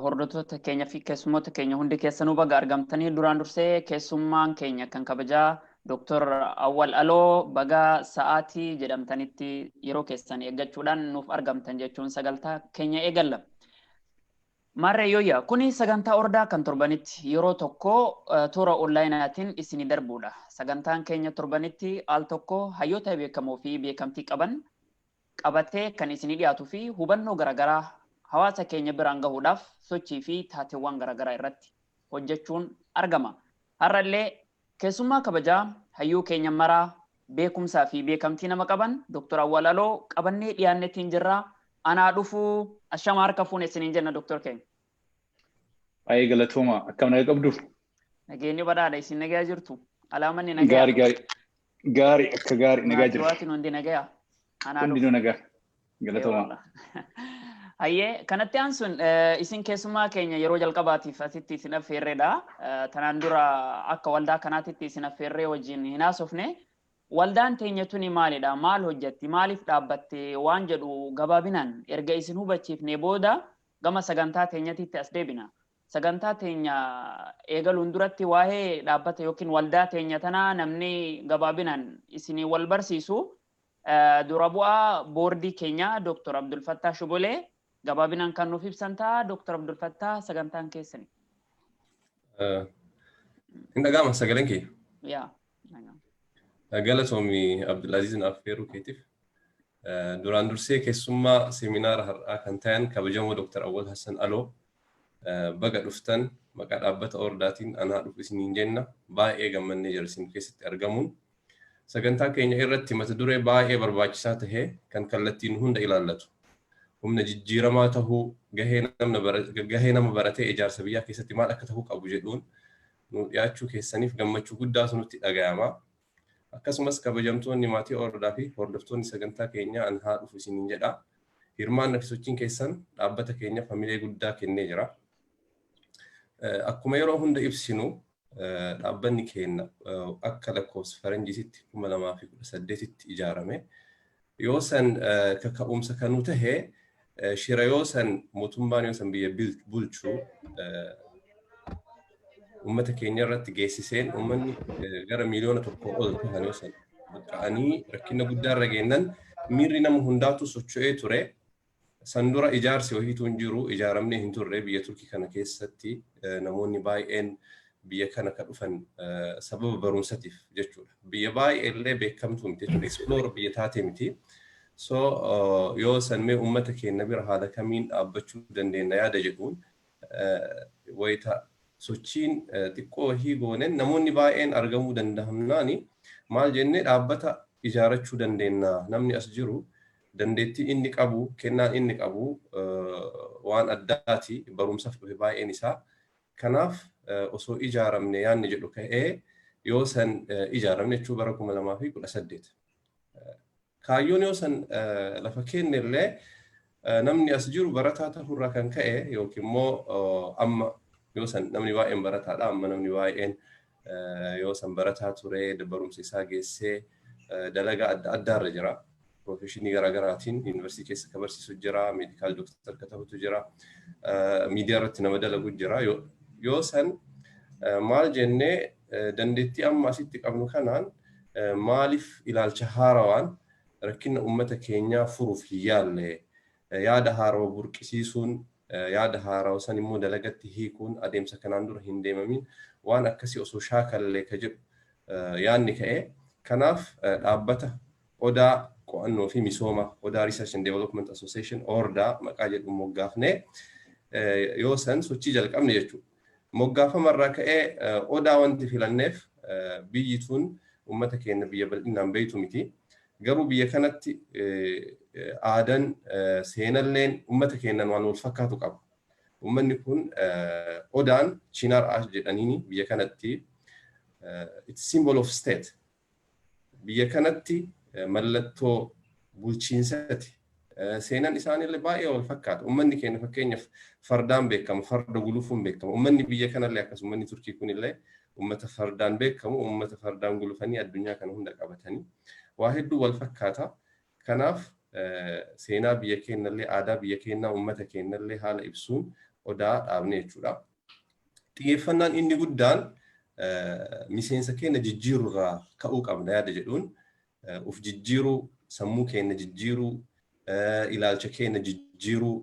Hordoftoota keenya fi keessummoota keenya hundi keessanuu baga argamtanii duraan dursee keessummaan keenya kan kabajaa Dr. Awwal Aloo baga sa'aatii jedhamtanitti yeroo keessan eeggachuudhaan nuuf argamtan jechuun sagantaa keenya eegalla. Maarree Yooyyaa, kuni sagantaa ordaa kan torbanitti yeroo tokko toora onlaayinaatiin isinii darbuudha. Sagantaan keenya torbanitti al tokko hayyoota beekamoo fi beekamtii qaban qabatee kan isinii dhiyaatu fi hubannoo garagaraa hawaasa keenya biraan gahuudhaaf sochii fi taateewwaan garagaraa irratti hojjechuun argama. Har'a illee keessummaa kabajaa hayyuu keenya maraa beekumsaa fi beekamtii nama qaban Dr. Awwal Aloo qabannee dhiyaannetiin jirra. Anaa dhufuu ashama harka fuune isiniin jenna Dr. keenya. Baay'ee galatooma. Akkam naga qabdu? Nageenyi badhaadha isin nagaa jirtu. Alaamanni nagaa. Gaari gaari. Gaari akka gaari nagaa Maatii jira. waatiin hundi nagaya. Anaa Hundi dhufu. nu nagaa. Galatoomaa. Eewwallah. Hayyee kanatti aansuun eh, isin keessummaa keenya yeroo jalqabaatiif asitti isin affeerreedha. Eh, Tanaan dura akka waldaa kanaatitti isin affeerree wajjin hin haasofne. Waldaan teenya tuni maalidha? Maal hojjetti? Maaliif dhaabbatte? Waan jedhu gabaabinaan erga isin hubachiifnee booda gama sagantaa teenyatitti as deebina. Sagantaa teenya eegaluun duratti waa'ee dhaabbata yookiin waldaa teenya tanaa namni gabaabinaan isinii wal barsiisu dura bu'aa boordii keenyaa Dr. Abdulfattaa Shugulee gabaabinaan kan nuuf ibsan ta'a. Dr. Abdulfattaa sagantaan keessani. Hin dhaga'ama sagaleen kee. Yaa. Galatoomi Abdulaziz naaf feeruu keetiif. Duraan dursee keessummaa seeminaara har'aa kan tayan kabajamoo Dr. Awwal Hassan Aloo baga dhuftan maqaa dhaabbata Ordaatiin anaa dhufu isiniin jenna baay'ee gammannee jira isin keessatti argamuun. Sagantaa keenya irratti mata duree baay'ee barbaachisaa tahe kan kallattiin hunda ilaallatu. Humna jijjiiramaa tahuu gahee nama baratee ijaarsa biyyaa keessatti maal akka tahuu qabu jedhuun nu dhiyaachuu keessaniif gammachuu guddaatu nutti dhagayama. Akkasumas kabajamtoonni maatii Oordaa fi hordoftoonni sagantaa keenyaa an haa dhufu isiniin jedha. Hirmaanna fi sochiin keessan dhaabbata keenyaf hamilee guddaa kennee jira. Akkuma yeroo hunda ibsinu dhaabbanni keenna akka lakkoofsa faranjiisitti 2018tti ijaarame Yoo san kaka'umsa kan nu tahe shira yoo san mootummaan yoo san biyya bulchu uummata keenya irratti geessiseen uummanni gara miiliyoona tokko ol tahan yoo san buqqa'anii rakkina guddaa irra geennan miirri nama hundaatu socho'ee ture. San dura ijaarsi wahiituu hin jiru, ijaaramnee hin turre, biyya Turkii kana keessatti namoonni baay'een biyya kana ka dhufan sababa barumsatiif jechuudha. Biyya baay'ee illee beekamtuu miti jechuudha. Explore biyya taatee miti. So yoo san mee uummata keenya bira haala kamiin dhaabbachuu dandeenya yaada jedhuun wayita sochiin xiqqoo wahii goonen namoonni baay'een argamuu danda'amnaani maal jennee dhaabbata ijaarachuu dandeenya namni as jiru Dandeettii inni qabu, kennaan inni qabu waan addaati. Barumsaf dhufe baay'een isaa. Kanaaf osoo ijaaramne yaanni jedhu ka'ee yoo san ijaaramne jechuu bara 2018. Kaayyoon yoo san lafa keenne illee namni as jiru barataa ta'urraa kan ka'e yookiin immoo amma yoo san namni baay'een barataadha amma namni baay'een Yoo san barataa ture barumsa isaa geessee dalagaa adda addaarra jira. Piroofeshinii garaagaraatiin yuunivarsiitii keessa ka barsiisu jira, meedikaal dooktar ka ta'utu jira, miidiyaa irratti nama dalagu jira. Yoo san maal jennee dandeettii amma asitti qabnu kanaan maaliif ilaalcha haarawaan rakkina uummata keenyaa furuuf hin yaalle Yaada haarawa burqisiisuun, yaada haarawa san immoo dalagatti hiikuun adeemsa kanaan dura hin deemamiin waan akkasii osoo shaakallee ka jedhu yaanni ka'e. Kanaaf dhaabbata Odaa Qo'annoo fi Misooma, Odaa Research and Development Association, Orda, maqaa jedhuun moggaafnee yoo san sochii jalqabne jechuudha. Moggaafama irraa ka'ee Odaa wanti filanneef biyyi tun ummata keenna biyya bal'innaan beeytu miti. Garuu biyya kanatti aadan, seenalleen ummata keennan waan wal fakkaatu qaba. Ummanni kun Odaan Chinar Ash jedhaniini biyya kanatti it's symbol of state. Biyya kanatti mallattoo bulchiinsati. Seenan isaanille baay'ee wal fakkaata. Ummanni keenya fakkeenyaf fardaan beekama, farda gulufuun beekama. Ummanni biyya kanalle akkas ummanni Turkii kunille ummata fardaan beekamu, ummata fardaan gulufanii addunyaa kana hunda qabatanii. Waa hedduu wal fakkaata. Kanaaf seenaa biyya keennallee, aadaa biyya keennaa, ummata keennallee haala ibsuun odaa dhaabne jechuudha. Xiyyeeffannaan inni guddaan miseensa keenya jijjiiru irraa ka'uu qabna yaada jedhuun of jijjiiruu, sammuu keenya jijjiiruu, ilaalcha keenya jijjiiruu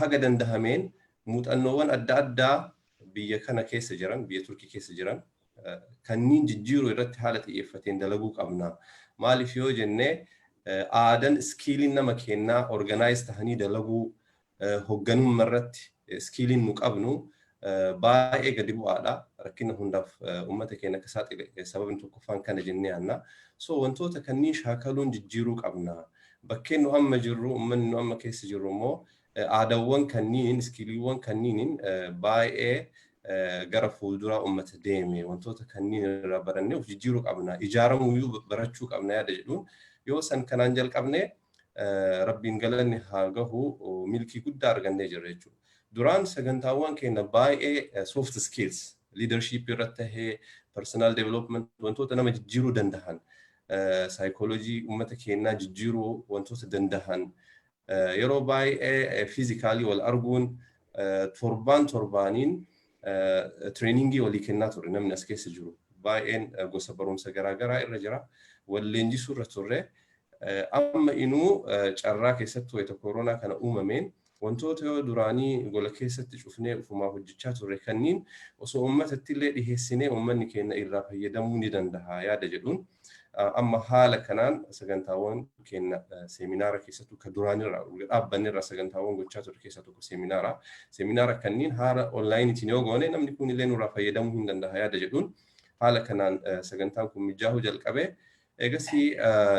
haga dandahameen muuxannoowwan adda addaa biyya kana keessa jiran, biyya Turkii keessa jiran kanniin jijjiiruu irratti haala xiyyeeffateen dalaguu qabna. Maaliif yoo jennee aadaan iskiiliin nama keenyaa organaayiz tahanii dalaguu, hogganumma irratti iskiiliin nu qabnu baay'ee gadi bu'aadha. Rakkina hundaaf uummata keenya akka saaxile sababni tokkoffaan kana jennee yaanna. So wantoota kanneen shaakaluun jijjiiruu qabna. Bakkeen nu amma jirru uummanni nu amma keessa jirru immoo aadaawwan kanniin iskiiliiwwan kanniin baay'ee gara fuulduraa uummata deeme wantoota kanniin irraa barannee of jijjiiruu qabna. Ijaaramuyyuu barachuu qabna yaada jedhuun yoo san kanaan jalqabne Rabbiin galanni haa gahu milkii guddaa argannee jirra jechuudha. Duraan sagantaawwan keenya baay'ee soft skills leadership irratti tahee personal development wantoota nama jijjiiruu dandahan psychology uummata keenyaa jijjiiruu wantoota dandahan yeroo baay'ee physically wal arguun torbaan torbaaniin Tireeningii walii kennaa turre namni as keessa jiru baay'een gosa barumsa garaa garaa irra jira. Wal leenjisuu irra turre. Amma inuu carraa keessatti wayita koronaa kana uumameen wantoota yoo duraanii gola keessatti cufnee ufumaa hojjechaa turre kanniin osoo uummatatti illee dhiheessinee uummanni keenya irraa fayyadamuu ni danda'a yaada jedhuun Amma haala kanaan sagantaawwan keenya seeminaara keessattuu kan duraanirraa erga dhaabbannerraa sagantaawwan gochaa turre keessaa tokko seeminaara. Seeminaara kanneen haala onlaayiniitiin yoo goone namni kun illee nurraa fayyadamuu hin danda'a yaada jedhuun haala kanaan sagantaan kun mijaa'uu jalqabe. Eegasii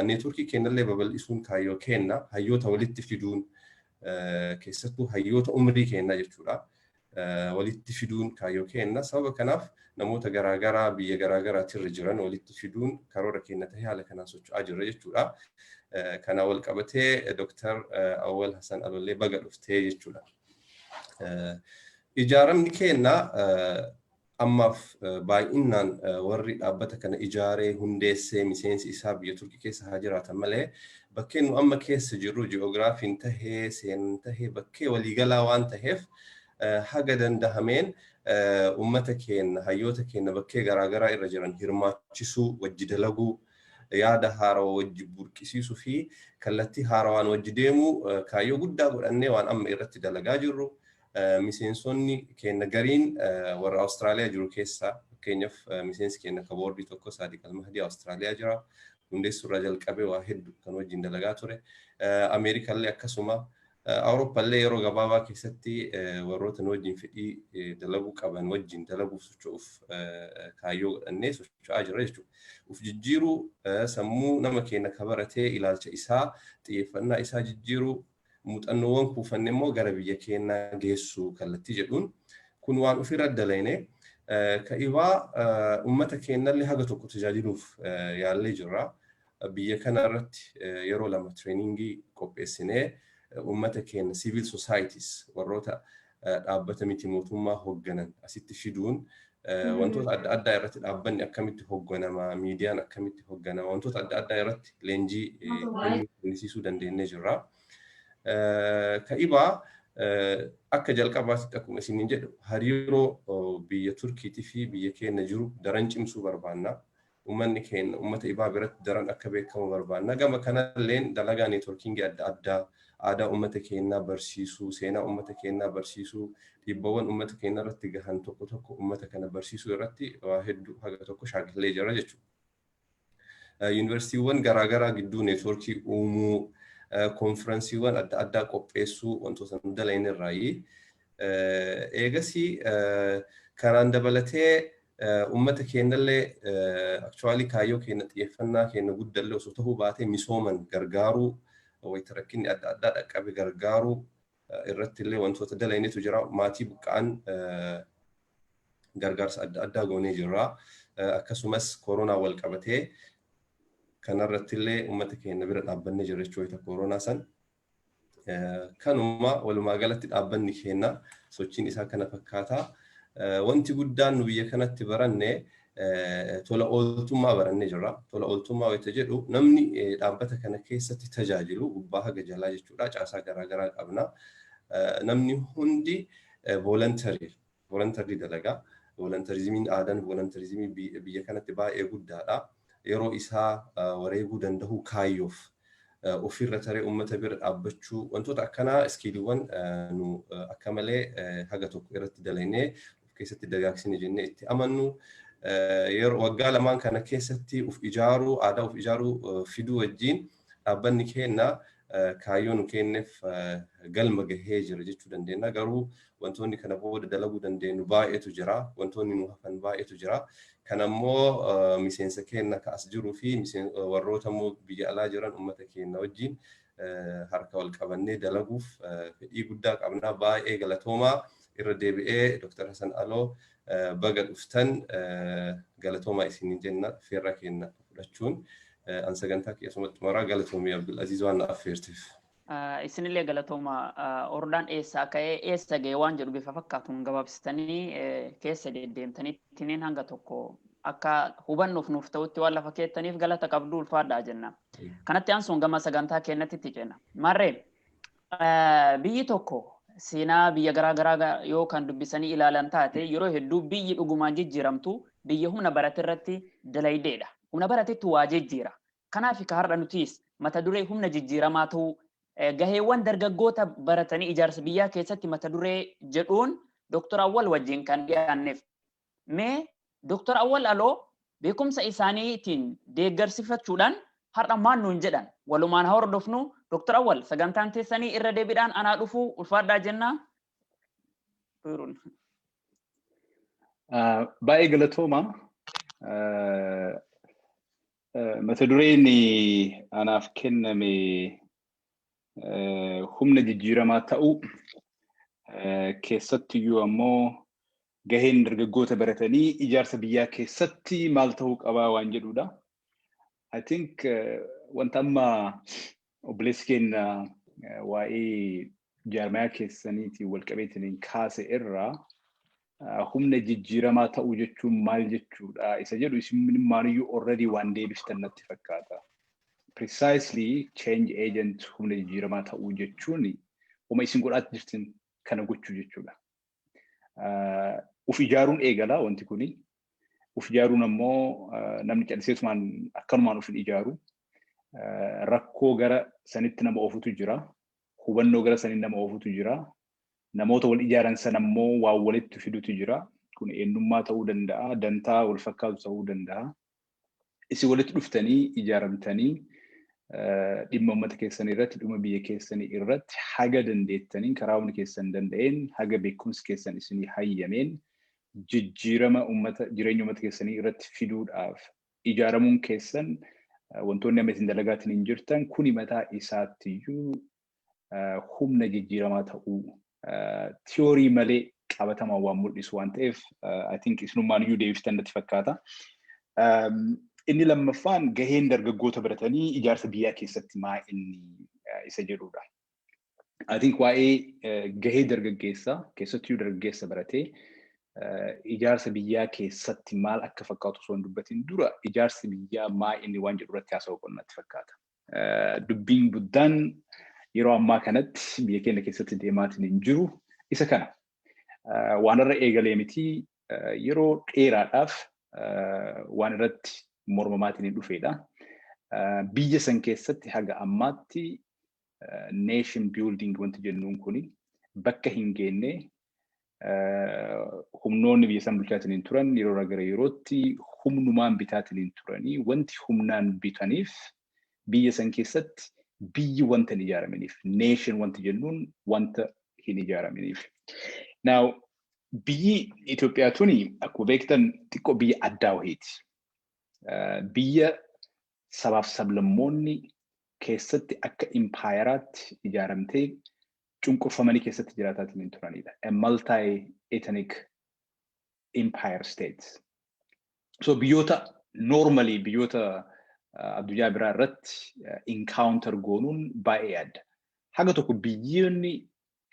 neetworkii keenyallee babal'isuun kaayyoo keenya hayyoota walitti fiduun keessattuu hayyoota umrii keenyaa jechuudha. walitti fiduun kaayyoo keenna. Sababa kanaaf namoota garaa garaa biyya garaa garaatti irra jiran walitti fiduun karoora keenna ta'ee haala kanaan socho'aa jirra jechuudha. Kana wal qabatee Dooktar Awwal Hasan Alollee baga dhuftee jechuudha. Ijaaramni keenna Ammaaf baay'innaan warri dhaabbata kana ijaaree, hundeesse, miseensi isaa biyya Turkii keessa haa jiraatan malee bakkeen nu amma keessa jirru ji'oogiraafiin tahee, seenaan tahee bakkee walii galaa waan taheef haga dandahameen ummata keenna, hayyoota keenna bakkee garaa garaa irra jiran hirmaachisuu, wajji dalaguu, yaada haarawa wajji burqisiisuu fi kallattii haarawaan wajji deemuu kaayyoo guddaa godhannee waan amma irratti dalagaa jirru. Miseensonni keenna gariin warra Awustiraaliyaa jiru keessaa fakkeenyaf miseensi keenna akka boordii tokko Saadiq Almahdi Awustiraaliyaa jira. Hundeessu irraa jalqabee waa heddu kan wajjin dalagaa ture. Ameerika illee akkasuma. Awurooppa illee yeroo gabaabaa keessatti warroota nu wajjin fedhii dalaguu qaban wajjin dalaguuf socho'uuf kaayyoo godhannee socho'aa jirra jechuudha. Uf jijjiiruu, sammuu nama keenna ka baratee ilaalcha isaa, xiyyeeffannaa isaa jijjiiruu, muuxannoowwan kuufanne immoo gara biyya keenyaa geessuu kallattii jedhuun kun waan ofirra dalayne ka'ibaa uummata keenyallee haga tokko tajaajiluuf yaallee jirra. Biyya kana irratti yeroo lama tireeningii qopheessinee uummata keenya siivil sosaayitis warroota dhaabbata miti mootummaa hogganan asitti fiduun wantoota adda addaa irratti dhaabbanni akkamitti hogganama, miidiyaan akkamitti hogganama, wantoota adda addaa irratti leenjii kennisiisuu dandeenyee jirra. Ka'ibaa akka jalqabaatti akkuma isiniin jedhu hariiroo biyya Turkiitii fi biyya keenya jiru daran cimsuu barbaanna. ummanni keenya ummata ibaa biratti daran akka beekamu barbaanna. Gama kanalleen dalagaa neetworkiingii adda addaa, aadaa ummata keenyaa barsiisuu, seenaa ummata keenyaa barsiisuu, dhiibbawwan ummata keenyarratti gahan tokko tokko ummata kana barsiisuu irratti waa hedduu haga tokko shaakallee jirra jechuudha. Yuunivarsiitiiwwan garaa garaa gidduu neetworkii uumuu, konfiransiiwwan adda addaa qopheessuu wantoota nu dalayne irraayi. Eegasii kanaan dabalatee uummata keenyallee actually kaayyoo keenya xiyyeeffannaa keenya guddallee osoo ta'uu baatee misooman gargaaruu wayita rakkinni adda addaa dhaqqabe gargaaruu irrattillee wantoota dalaynetu jira. Maatii buqqa'an gargaarsa adda addaa goonee jirra. Akkasumas koronaa wal qabatee kanarrattillee uummata keenya bira dhaabbannee jirra jechuudha wayita koronaa san. Kanuma walumaa galatti dhaabbanni keenya sochiin isaa kana fakkaata. Wanti guddaan nu biyya kanatti baranne tola ooltummaa barannee jirra. Tola ooltummaa wayita jedhu namni dhaabbata kana keessatti tajaajilu gubbaa haga jalaa jechuudha caasaa garaagaraa qabna. Namni hundi voluntarii Volontarlii dalagaa. Volontarizimiin aadan volontarizimii biyya kanatti baay'ee guddaadha. Yeroo isaa wareeguu dandahuu kaayyoof ofirra taree ummata bira dhaabbachuu wantoota akkanaa iskiiliiwwan nu akka malee haga tokko irratti dalaynee of keessatti dagaagsine jennee itti amannu. Yeroo waggaa lamaan kana keessatti of ijaaruu aadaa of ijaaruu fiduu wajjin Dhaabbanni keenna kaayyoo nu keenneef galma gahee jira jechuu dandeenna. Garuu wantoonni kana booda dalaguu dandeennu baay'eetu jira. Wantoonni nu hafan baay'eetu jira. Kana immoo miseensa keenna ka as jiruu fi warroota immoo biyya alaa jiran ummata keenna wajjin harka wal qabannee dalaguuf fedhii guddaa qabna. Baay'ee galatoomaa. Irra deebi'ee Dr. Hasan Aloo baga dhuftan galatoomaa isiniin jenna. Feerra keenna. fudhachuun an sagantaa kee asumatti xumuraa galatoomii Abdulaziz waan na affeerteef. Isinillee galatooma hordaan eessaa ka'ee eessa ga'e waan jedhu bifa fakkaatuun gabaabsitanii keessa deddeemtanii timeen hanga tokko akka hubannuuf nuuf ta'utti waan lafa keettaniif galata qabdu ulfaadhaa jenna. Kanatti aansuun gama sagantaa keenyatti itti ceena. Maarree Biyyi tokko seenaa biyya garaa garaa yoo kan dubbisanii ilaalan taate yeroo hedduu biyyi dhugumaan jijjiiramtu biyya humna barate irratti dalaydeedha. Humna baratetu waa jijjiira. Kanaaf ka har'a nutiis mata duree humna jijjiiramaa ta'uu gaheewwan dargaggoota baratanii ijaarsa biyyaa keessatti mata duree jedhuun Doktor Awwal wajjin kan dhiyaanneef Mee Dr. Awwal Aloo beekumsa isaanii tiin deeggarsifachuudhaan har'a maal nuun jedhan? Walumaan haa hordofnu. Dr. Awwal sagantaan teessanii irra deebiidhaan anaa dhufu ulfaadhaa jenna. Baay'ee galatooma. Mata dureen anaaf kenname humna jijjiiramaa ta'uu keessattuyyuu ammoo Gaheen dargaggoota baratanii ijaarsa biyyaa keessatti maal ta'uu qabaa waan jedhuudha. I think wanta amma obboleessi keenya waa'ee jaarmayaa keessaniitiin walqabeetiin kaase irraa humna jijjiiramaa ta'uu jechuun maal jechuudha isa jedhu isinimmaaniyyuu already waan deebiftan natti fakkaata. Precisely change agent humna jijjiiramaa ta'uu jechuun uma isin godhaatti jirtan kana gochuu jechuudha. Uf ijaaruun eegala wanti kuni. Uf ijaaruun ammoo namni calliseetumaan akkanumaan uf hin ijaaru. Rakkoo gara sanitti nama oofutu jira. Hubannoo gara saniin nama oofutu jira. Namoota wal ijaaran san ammoo waan walitti fidutu jira. Kun eenyummaa ta'uu danda'a, dantaa wal fakkaatu ta'uu danda'a. isin walitti dhuftanii ijaaramtanii dhimma uummata keessanii irratti dhuma biyya keessanii irratti haga dandeettaniin karaa humni keessan danda'een haga beekumsi keessan isinii hayyameen jijjiirama uummata jireenya uummata keessanii irratti fiduudhaaf ijaaramuun keessan wantoonni amma isin dalagaatiin hin jirtan kuni mataa isaattiyyuu humna jijjiiramaa ta'uu tiyoorii malee qabatamaan waan mul'isu waan ta'eef I think isinummaan iyyuu deebiftan natti fakkaata. Inni lammaffaan gaheen dargaggoota baratanii ijaarsa biyyaa keessatti maa inni isa jedhudha. I think waa'ee gahee dargaggeessaa keessattuu dargaggeessa baratee ijaarsa biyyaa keessatti maal akka fakkaatu osoo hin dubbatin dura ijaarsi biyyaa maa inni waan jedhu irratti haasa'uu qabna natti fakkaata. Dubbiin guddaan yeroo ammaa kanatti biyya keenya keessatti deemaatiin hin jiru isa kana. Waan irra eegalee miti yeroo dheeraadhaaf waan irratti mormamaatiin hin dhufeedha. Biyya san keessatti haga ammaatti nation building wanti jennuun kuni bakka hin geenne humnoonni biyya isaan bulchaatiniin turan yeroo gara yerootti humnumaan bitaatiniin turanii wanti humnaan bitaniif biyya san keessatti biyyi wanta hin ijaaraminiif nation wanti jennuun wanta hin ijaaraminiif. Now biyyi Itoophiyaa tuni akkuma beektan xiqqoo biyya addaa wahiiti. Biyya sabaaf sablammoonni keessatti akka impaayeraatti ijaaramtee cunqurfamanii keessatti jiraataatiin hin turanidha. A multi ethnic empire state. So biyyoota normally biyyoota uh, addunyaa biraa irratti uh, encounter goonuun baay'ee adda. Haga tokko biyyoonni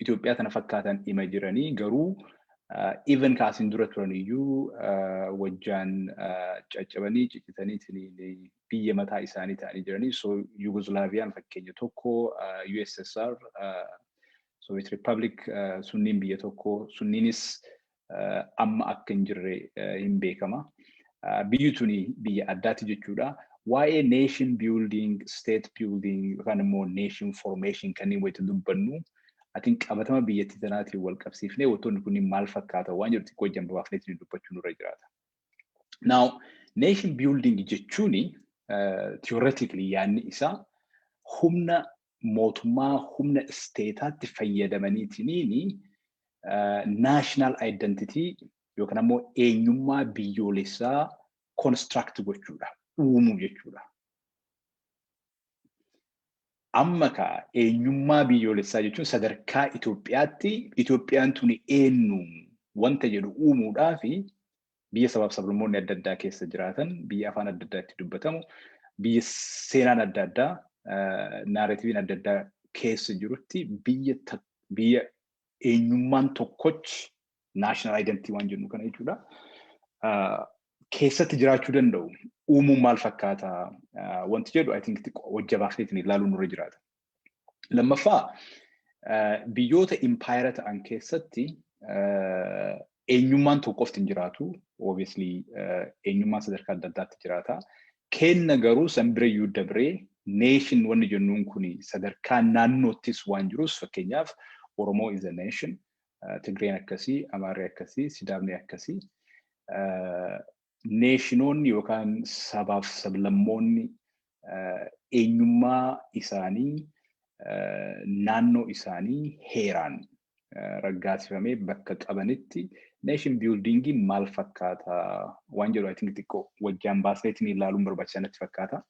Itoophiyaa tana fakkaatan ima jiranii garuu uh, even kaasin dura turan iyyuu uh, wajjaan uh, caccabanii ciccitanii biyya mataa isaanii ta'anii jiranii so Yugoslaaviyaan fakkeenya tokko USSR Soviet Republic sunniin biyya tokko sunniinis amma akka hin jirre hin beekama. Biyyi tuni biyya addaatti jechuudha. Waa'ee nation building, state building yookaan immoo nation formation kanneen wayita dubbannu atiin qabatama biyyattii tanaatiin wal qabsiifnee wantoonni kunniin maal fakkaata waan jedhu xiqqoo ijaan babaafneetiin dubbachuu nurra jiraata. Now, nation building jechuun theoretically yaadni isaa humna mootummaa humna isteetaatti fayyadamaniitiin national identity yookaan ammoo eenyummaa biyyoolessaa construct gochuudha, uumuu jechuudha. Amma kaa eenyummaa biyyoolessaa jechuun sadarkaa Itoophiyaatti Itoophiyaan tuni eenyu wanta jedhu uumuudhaaf biyya sabaaf sablammoonni adda addaa keessa jiraatan, biyya afaan adda addaa itti dubbatamu, biyya seenaan adda addaa, naarativiin adda addaa keessa jirutti biyya biyya eenyummaan tokkoch national identity waan jennu kana jechuudha. Keessatti jiraachuu danda'u uumuun maal fakkaata wanti jedhu I think hojja baafneetiin ilaaluun nurra jiraata. Lammaffaa biyyoota impaayera ta'an keessatti eenyummaan tokko qofti hin jiraatu. Obviously eenyummaan sadarkaa adda addaatti jiraata. Kenna garuu san bira iyyuu dabree nation wanni jennuun kun sadarkaa naannoottis waan jirus fakkeenyaaf Oromoo is a nation, Tigreen akkasii, Amaarri akkasii, Sidaamni akkasii neeshinoonni yookaan sabaaf sablammoonni eenyummaa isaanii naannoo isaanii heeraan raggaasifamee bakka qabanitti neeshin biyuldingii maal fakkaata waan jedhu ayitiin xiqqoo wajjaan baasneetiin ilaaluun barbaachisaa natti fakkaata.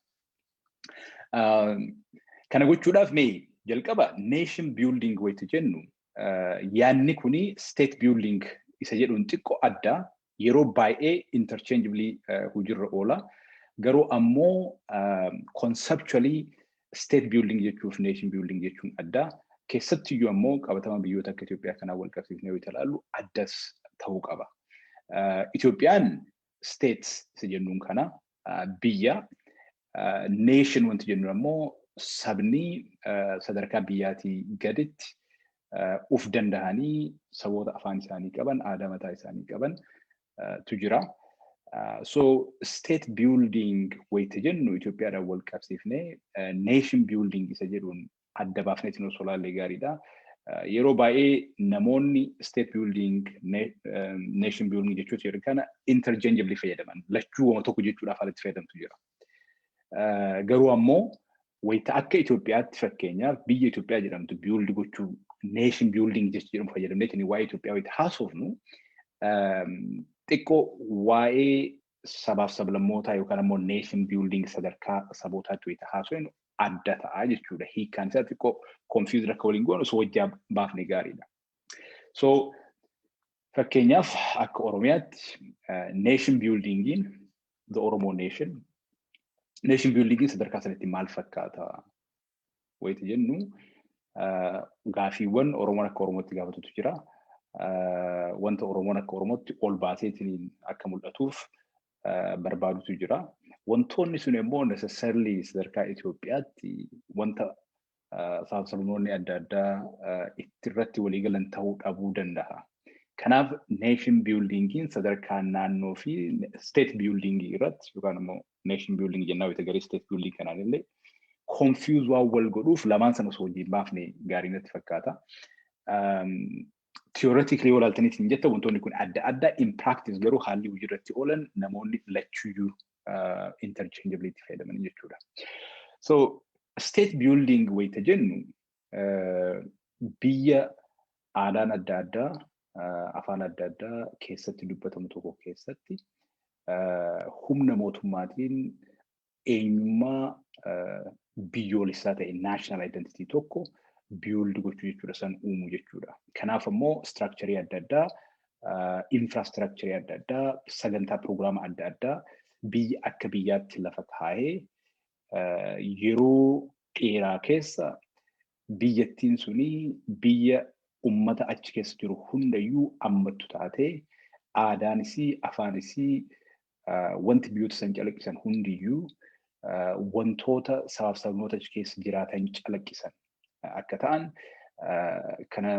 Kana gochuudhaaf mee jalqaba neeshin biyulding wayitu jennu yaadni kun state building isa jedhuun xiqqo adda yeroo baay'ee interchangeably hojiirra oola. Garuu ammoo conceptually state building jechuuf nation building jechuun adda. Keessattiyyuu ammoo qabatama biyyoota akka Itoophiyaa kanaa wal qabsiifnee yoo ilaallu addas ta'uu qaba. Itoophiyaan States isa jennuun kana biyya nation wanti jennuun ammoo sabni sadarkaa biyyaatii gaditti uf dandahanii saboota afaan isaanii qaban aadaa mataa isaanii qaban tu jira. So state building wayita jennu Itoophiyaadhaan wal qabsiifnee nation building isa jedhuun adda baafneetiin osoo ilaallee gaariidha. Yeroo baay'ee namoonni state building, nation building jechoota jedhan kana interchangeably fayyadaman. Lachuu wama tokko jechuudhaaf alatti fayyadamtu jira. Garuu ammoo wayita akka Itoophiyaatti fakkeenyaaf biyya Itoophiyaa jedhamtu build gochuu nation building jecha jedhamu fayyadamneetiin waa'ee Itoophiyaa wayita haasofnu xiqqoo waa'ee sabaaf sablammootaa yookaan ammoo nation building sadarkaa sabootaatti wayita haasofnu adda ta'a jechuudha. Hiikaan isaa xiqqoo confused akka waliin goonu osoo wajjaa baafne gaariidha. So fakkeenyaaf akka Oromiyaatti nation buildingiin the Oromo nation nation buildingiin sadarkaa sanatti maal fakkaata? wayita jennu gaafiiwwan Oromoon akka Oromootti gaafatutu jira. Wanta Oromoon akka Oromootti ol baaseetiin akka mul'atuuf barbaadutu jira. Wantoonni sun immoo necessarily sadarkaa Itoophiyaatti wanta saamsamoonni adda addaa itti irratti waliigalan ta'uu dhabuu danda'a. Kanaaf nation buildingiin sadarkaa naannoo fi state building irratti yookaan immoo nation building jennaa wayita garee state building kanaan illee confuse waan wal godhuuf lamaan sana osoo wajjin baafne gaarii natti fakkaata. Theoretically yoo ilaaltanii isin jetta wantoonni kun adda adda in practice garuu haalli hojii irratti oolan namoonni lachuyyuu interchangeably itti fayyadaman jechuudha. So state building wayita jennu Biyya aadaan adda addaa, afaan adda addaa keessatti dubbatamu tokko keessatti humna mootummaatiin eenyummaa biyyoolessaa ta'e national identity tokko build gochuu jechuudha san uumu jechuudha. Kanaaf ammoo structure adda addaa infrastructure adda addaa sagantaa piroogiraama adda addaa biyya akka biyyaatti lafa kaa'ee yeroo dheeraa keessa biyyattiin suni biyya ummata achi keessa jiru hundayyuu ammattu taatee aadaan isii afaan isii wanti biyyoota san calaqqisan hundiyyuu wantoota sabaaf sabnoota achi keessa jiraatan calaqqisan akka ta'an kana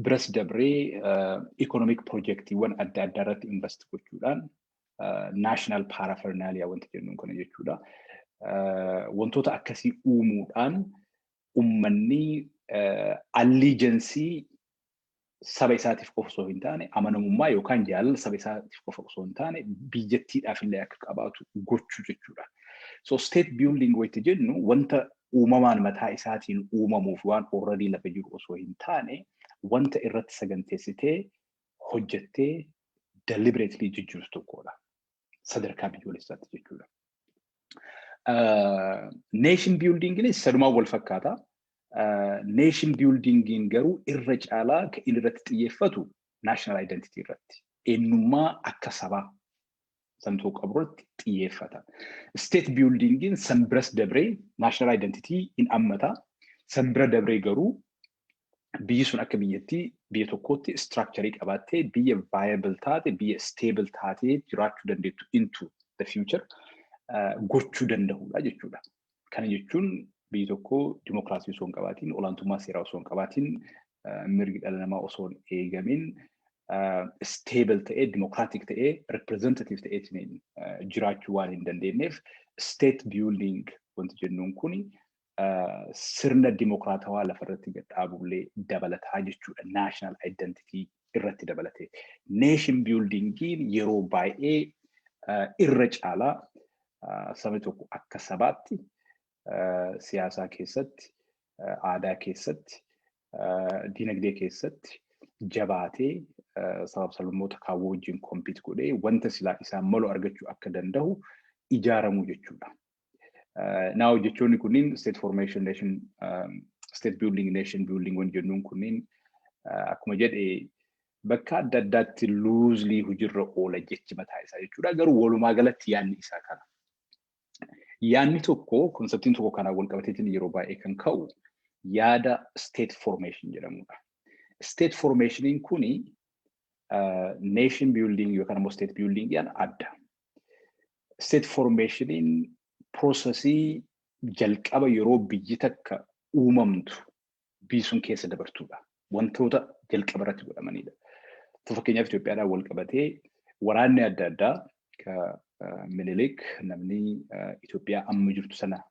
biras dabree ikonomik pirojektiiwwan adda addaa irratti invest gochuudhaan naashinaal paarafernaaliyaa wanti jennuun kana jechuudha. Wantoota akkasii uumuudhaan ummanni alliijensii saba isaatiif qofa osoo hin taane amanamummaa yookaan jaalala saba isaatiif qofa osoo hin taane biyyattiidhaaf illee akka qabaatu gochuu jechuudha. So state building wanti jennu wanta uumamaan mataa isaatiin uumamuu fi waan already lafa jiru osoo hin taane wanta irratti saganteessitee hojjettee deliberately jijjiirtu tokkodha. Sadarkaa biyyoolessaatti jechuudha. Nation buildinginis sadumaan wal fakkaata. Nation buildingiin garuu irra caalaa kan inni irratti xiyyeeffatu national identity irratti. Eenyummaa akka sabaa santuu qaburratti xiyyeeffata. State buildingin san biras dabree national identity in ammata. San bira dabree garuu biyyi sun akka biyyattii biyya tokkootti structure qabaattee biyya viable taate biyya stable taatee jiraachuu dandeettu into the future gochuu danda'uudha jechuudha. Kana jechuun biyyi tokko dimokiraasii osoo hin qabaatiin, olaantummaa seeraa osoo hin qabaatiin, mirgi dhala namaa osoo hin eegamiin stable ta'ee, democratic ta'ee, representative ta'eetiin jiraachuu waan hin dandeenyeef state building wanti jennuun kun sirna dimokiraatawaa lafarratti gad dhaabullee dabalataa jechuudha. National identity irratti dabalatee. Nation buildingiin yeroo baay'ee irra caalaa sabni tokko akka sabaatti siyaasaa keessatti, aadaa keessatti, dinagdee keessatti jabaatee sabab sablammoota kaawwoo wajjin kompiit godhee wanta silaa isaan malu argachuu akka danda'u ijaaramuu jechuudha. Naa hojjechoonni kunniin state formation nation, state building nation building wan jennuun kunniin akkuma jedhe Bakka adda addaatti loosely hojirra oola jechi mataa isaa jechuudha. Garuu walumaa galatti yaadni isaa kana. Yaadni tokko konseptiin tokko kanaan wal qabateetiin yeroo baay'ee kan ka'u yaada state formation jedhamudha. State formationiin kuni nation building yookaan immoo state building jedhan adda. State formationiin prosesii jalqaba yeroo biyyi takka uumamtu biisuun keessa dabartuudha. Wantoota jalqaba irratti godhamanidha. Tu fakkeenyaaf Itoophiyaadhaan wal qabatee waraanni adda addaa ka Minilik namni Itoophiyaa amma jirtu sana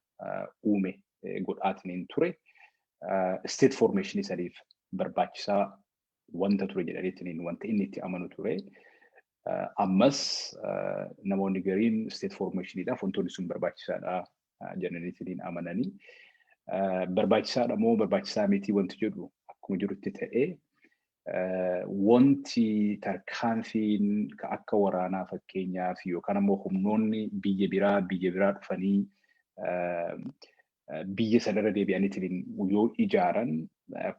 uume godhaatiniin ture isteet foormeeshinii saniif barbaachisaa wanta ture jedhaniitiin wanta inni itti amanu ture. Ammas namoonni gariin state formationidhaaf wantoonni sun barbaachisaadha jedhaniitiin amananii. Barbaachisaadha moo barbaachisaa miti wanti jedhu akkuma jirutti ta'ee wanti tarkaanfiin akka waraanaa fakkeenyaaf yookaan ammoo humnoonni biyya biraa biyya biraa dhufanii biyya sana irra deebi'aniitiin yoo ijaaran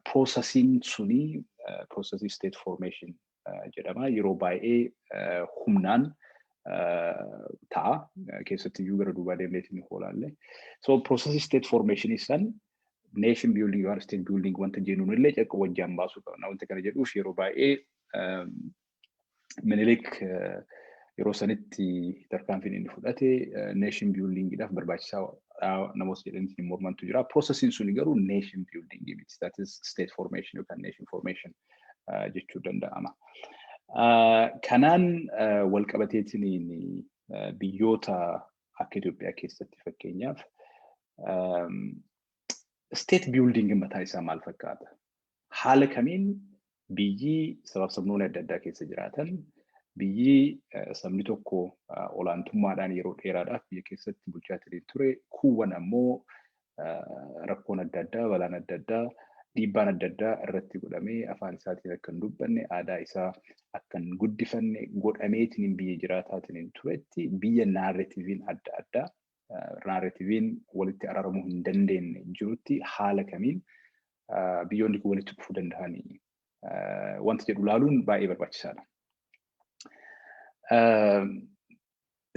piroosasiin suni piroosasii state formation jedhama. Yeroo baay'ee humnaan ta'a. Keessatti iyyuu gara duubaa deemneetiin hin hoolaalle. So piroosasii state formation san nation building yookaan state building wanta jennuun illee jalqaba wajjaan baasuu qabna. Wanta kana jedhuuf yeroo baay'ee Minilik yeroo sanitti tarkaanfiin inni fudhate neeshin biyuldiingiidhaaf barbaachisaa namoota jedhanitti hin mormantu jira. Proosesiin suni garuu neeshin biyuldiingii miti. That is state formation yookaan neeshin formation jechuu danda'ama. Kanaan wal qabateetiin biyyoota akka Itoophiyaa keessatti fakkeenyaaf state biyuldiingi mataa isaa maal fakkaata? haala kamiin biyyi sabab-sabnoonni adda addaa keessa jiraatan, biyyi sabni tokko olaantummaadhaan yeroo dheeraadhaaf biyya keessatti bulchaa ittiin ture, kuuwwan ammoo rakkoon adda addaa, balaan adda addaa, dhiibbaan adda addaa irratti godhamee afaan isaatiin akka hin dubbanne, aadaa isaa akka hin guddifanne godhameetiin biyya jiraataatiin turetti biyya naarretiiviin adda addaa naarrativiin walitti araaramuu hin dandeenye jirutti haala kamiin biyyoonni kun walitti dhufuu danda'anii wanta jedhu ilaaluun baay'ee barbaachisaadha.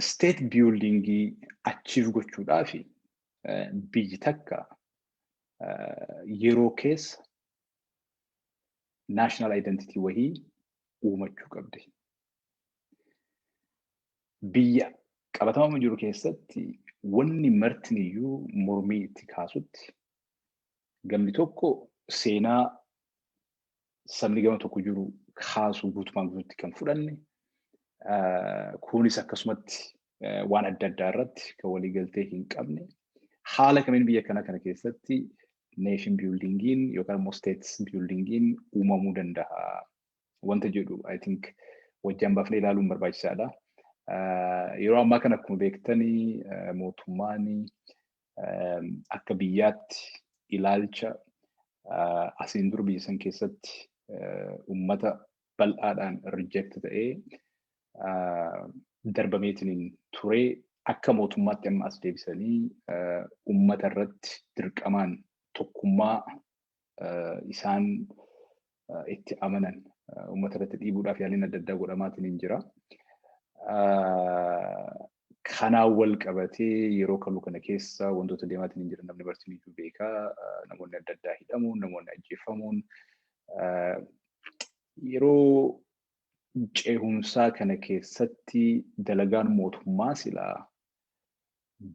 Steet biyuldingii achiif gochuudhaaf biyyi takka yeroo keessa naashinaal identitii wahii uumachuu qabdi. Biyya qabatamama jiru keessatti wanni martiniyyuu mormii itti kaasutti gamni tokko seenaa sabni gama tokko jiru kaasu guutumaan guututti kan fudhanne kunis akkasumatti waan adda addaa irratti kan waliigaltee hin qabne haala kamiin biyya kana kana keessatti neeshin biyuldiingiin yookaan immoo steetis biyuldiingiin uumamuu danda'a wanta jedhu I think wajjin baafnee ilaaluun barbaachisaadha. Yeroo ammaa kana akkuma beektanii mootummaan akka biyyaatti ilaalcha asiin dura biyya san keessatti uummata bal'aadhaan reject ta'ee darbameetiin turee akka mootummaatti amma as deebisanii uummata irratti dirqamaan tokkummaa isaan itti amanan uummata irratti dhiibuudhaaf yaaliin adda addaa godhamaatiin hin jira. Kanaan wal qabatee yeroo kaluu kana keessa wantoota deemaatiin hin jiran namni barsiin iyyuu beeka. Namoonni adda addaa hidhamuun, namoonni ajjeefamuun yeroo ceehumsaa kana keessatti dalagaan mootummaa silaa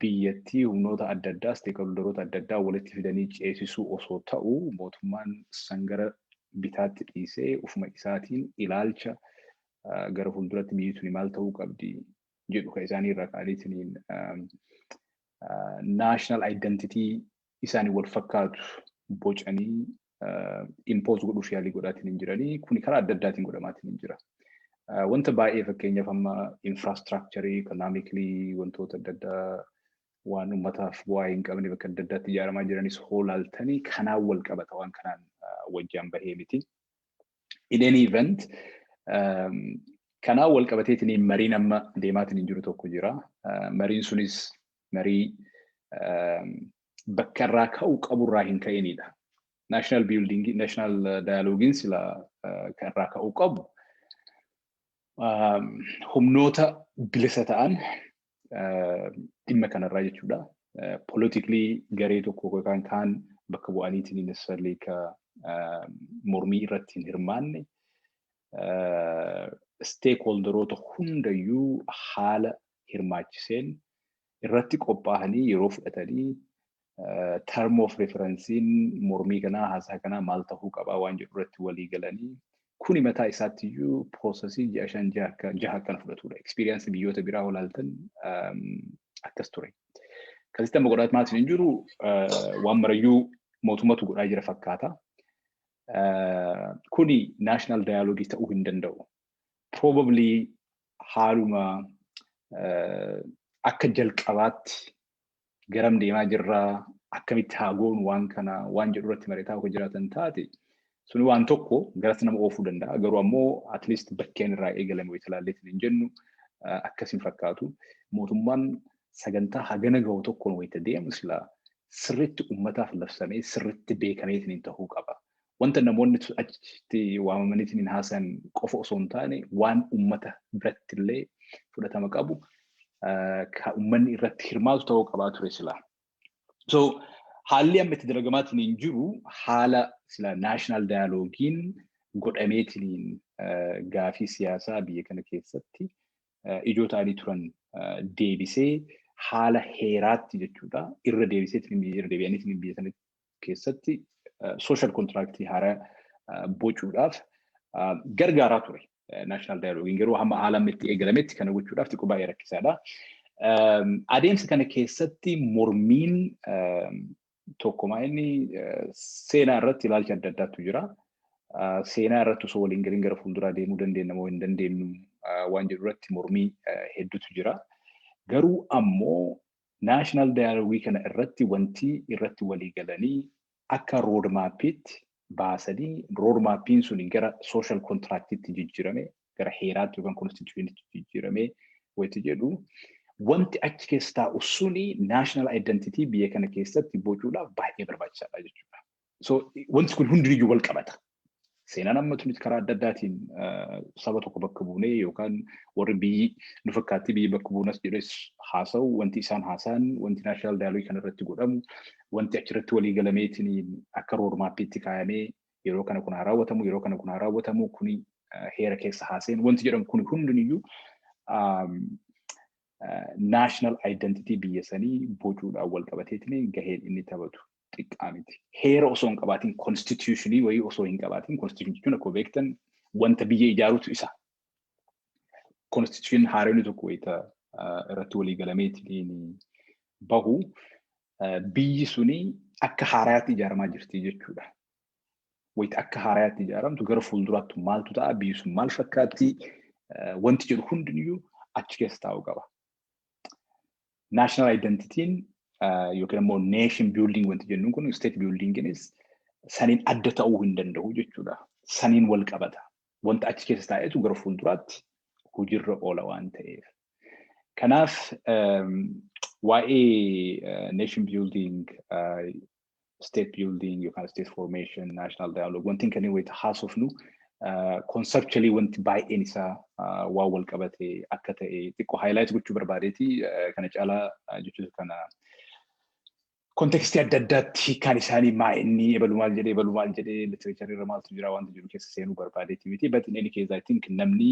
biyyattii humnoota adda addaa, isteekholdaroota adda addaa walitti fidanii ceesisuu osoo ta'u mootummaan san gara bitaatti dhiisee ufuma isaatiin ilaalcha gara fuulduratti biyyi tuni maal ta'uu qabdi jedhu kan isaanii irraa ka'aniitiin national identity isaanii wal fakkaatu bocanii impose godhuuf yaalii godhaatiin hin jiranii kuni karaa adda addaatiin godhamaatiin hin jira. Wanta baay'ee fakkeenyaaf amma infraastiraakcharii ikonaamikilii wantoota adda addaa waan uummataaf bu'aa hin qabne bakka adda addaatti ijaaramaa jiranis hoolaaltanii kanaan wal qabata waan kanaan wajjaan bahee miti. In any event kanaan wal qabateetiin mariin amma deemaatiin hin jiru tokko jira. Mariin sunis marii bakka irraa ka'uu qabu irraa hin ka'inidha. National building, national dialogiin sila kan irraa ka'uu qabu humnoota bilisa ta'an dhimma kanarraa jechuudha. Politically garee tokko yookaan kaan bakka bu'aniitiin necessarily ka mormii irratti hin hirmaanne stakeholderoota hundayyuu haala hirmaachiseen irratti qophaa'anii yeroo fudhatanii term of referensiin mormii kanaa haasaa kanaa maal tahuu qabaa waan jedhu irratti walii galanii kuni mataa isaatti iyyuu piroosesii ji'a shan ji'a akka jaha akkana fudhatudha. Ekspiriyaansi biyyoota biraa olaaltan akkas ture. Kasitti amma godhaa maatiin hin jiru waan marayyuu mootummatu godhaa jira fakkaata. Kuni naashinaal daayaloogii ta'uu hin danda'u. probably haaluma akka jalqabaatti garam deemaa jirra akkamitti haa goonu waan kana waan jedhu irratti mari'ataa akka jiraatan taate suni waan tokko garas nama oofuu danda'a garuu ammoo at least bakkeen irraa eegalame wayita ilaalleetiin hin jennu akkasiin fakkaatu mootummaan sagantaa hagana gahu tokkoon wayita deemu silaa sirriitti ummataaf labsamee sirriitti beekameetiin hin ta'uu qaba. wanta namoonni achitti waamamaniitiin hin haasayan qofa osoo hin taane waan uummata biratti illee fudhatama qabu kan uummanni irratti hirmaatu ta'uu qabaa ture sila. So haalli amma itti dalagamaatiin hin jiru haala sila naashinaal daayaloogiin godhameetiin gaafii siyaasaa biyya kana keessatti ijoo ta'anii turan deebisee haala heeraatti jechuudha irra deebiseetiin irra deebi'aniitiin biyya sana keessatti social contract haaraa bocuudhaaf gargaaraa ture. National Dialogue garuu hamma haala amma itti eegalametti kana gochuudhaaf xiqqoo baay'ee rakkisaadha. Adeemsa kana keessatti mormiin tokkumaa inni seenaa irratti ilaalcha adda addaatu jira. Seenaa irratti osoo waliin galiin gara fuulduraa deemuu dandeenya moo hin dandeenyu waan jedhu irratti mormii hedduutu jira. Garuu ammoo National Dialogue kana irratti wantii irratti walii galanii akka road mappiitti baasanii road mappiin suni gara social contractitti jijjirame gara heeraatti yookaan constitutionitti jijjirame wanti jedhu wanti achi keessa taa'u suni national identity biyya kana keessatti bocuudhaaf baay'ee barbaachisaadha jechuudha. So wanti kun hundinuu wal qabata. Seenaan amma nuti karaa adda addaatiin saba tokko bakka buunee yookaan warri biyyi nu fakkaatti biyyi bakka buunas jedhes haasa'u wanti isaan haasa'an wanti naashinaal daayilogii kana irratti godhamu wanti achirratti walii galameetiin akka roodmaappiitti kaayamee yeroo kana kun haa raawwatamu yeroo kana kun haa raawwatamu kuni heera keessa haaseen wanti jedhamu kun hundiniyyuu naashinaal aayidentitii biyya sanii bocuudhaan wal qabateetiin gaheen inni taphatu xiqqaa miti. Heera osoo hin qabaatiin konstituushinii wayii osoo hin qabaatiin konstituushinii jechuun akkuma beektan wanta biyya ijaarutu isa. Konstituushinii haaronni tokko wayita irratti walii galameetiin bahu biyyi suni akka haaraatti ijaaramaa jirti jechuudha. Wayita akka haaraatti ijaaramtu gara fuulduraatti maaltu ta'a biyyi sun maal fakkaatti wanti jedhu hundiniyyuu achi keessa taa'uu qaba. national identityin yookiin immoo nation building wanti jennuun kun state buildinginis saniin adda ta'uu hin danda'u jechuudha. Saniin wal qabata. Wanta achi keessa taa'etu gara fuulduraatti hojiirra oola waan ta'eef. Kanaaf waa'ee nation building state building yookaan state formation, national dialogue wantiin kanneen wayita haasofnu conceptually wanti baay'een isaa waan wal qabate akka ta'e xiqqoo highlight gochuu barbaadeeti kana caalaa jechuun kana kontekstii adda addaatti hiikaan isaanii maa inni ebalu maal jedhee ebalu maal jedhee literature irra maaltu jira wanti jiru keessa seenuu barbaadeeti miti but in any case I think namni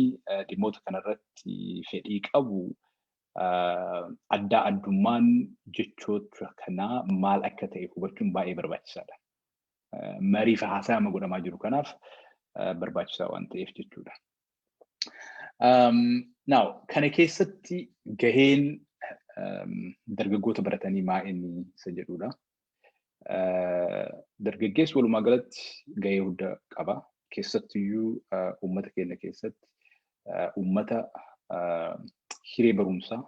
dhimmoota kanarratti fedhii qabu addaa addummaan jechoota kanaa maal akka ta'e hubachuun baay'ee barbaachisaadha. Marii fi haasaa amma godhamaa jiru kanaaf barbaachisaa waan ta'eef jechuudha. Now, kana keessatti gaheen dargaggoota baratanii maa inni isa jedhudha. Dargaggeessi walumaa galatti gahee guddaa qaba. Keessattiyyuu uummata keenya keessatti uummata hiree barumsaa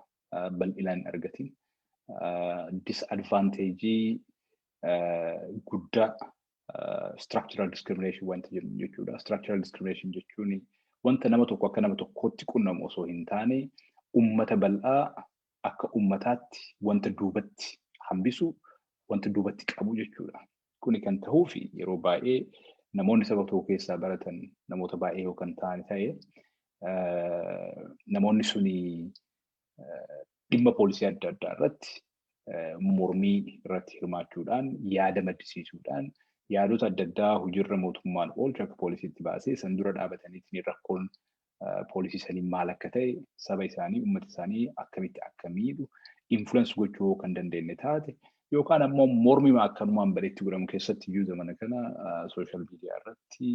bal'inaan hin argatin disadvanteejii guddaa structural discrimination wanta jennu jechuudha. Structural discrimination jechuun wanta nama tokko akka nama tokkootti qunnamu osoo hin taane uummata bal'aa akka ummataatti wanta duubatti hambisu, wanta duubatti qabu jechuudha. Kuni kan tahuufi yeroo baay'ee namoonni saba tokko keessaa baratan namoota baay'ee yoo kan ta'an ta'e namoonni suni dhimma poolisii adda addaa irratti mormii irratti hirmaachuudhaan yaada maddisiisuudhaan yaadota adda addaa hojiirra mootummaan oolchu akka poolisiitti baasee san dura dhaabataniitiin rakkoon poolisii sanii maal akka ta'e saba isaanii uummata isaanii akkamitti akka miidhu influence gochuu yoo kan dandeenye taate yookaan ammoo mormima akkanumaan bareetti godhamu keessatti iyyuu zamana kana sooshaal miidiyaa irratti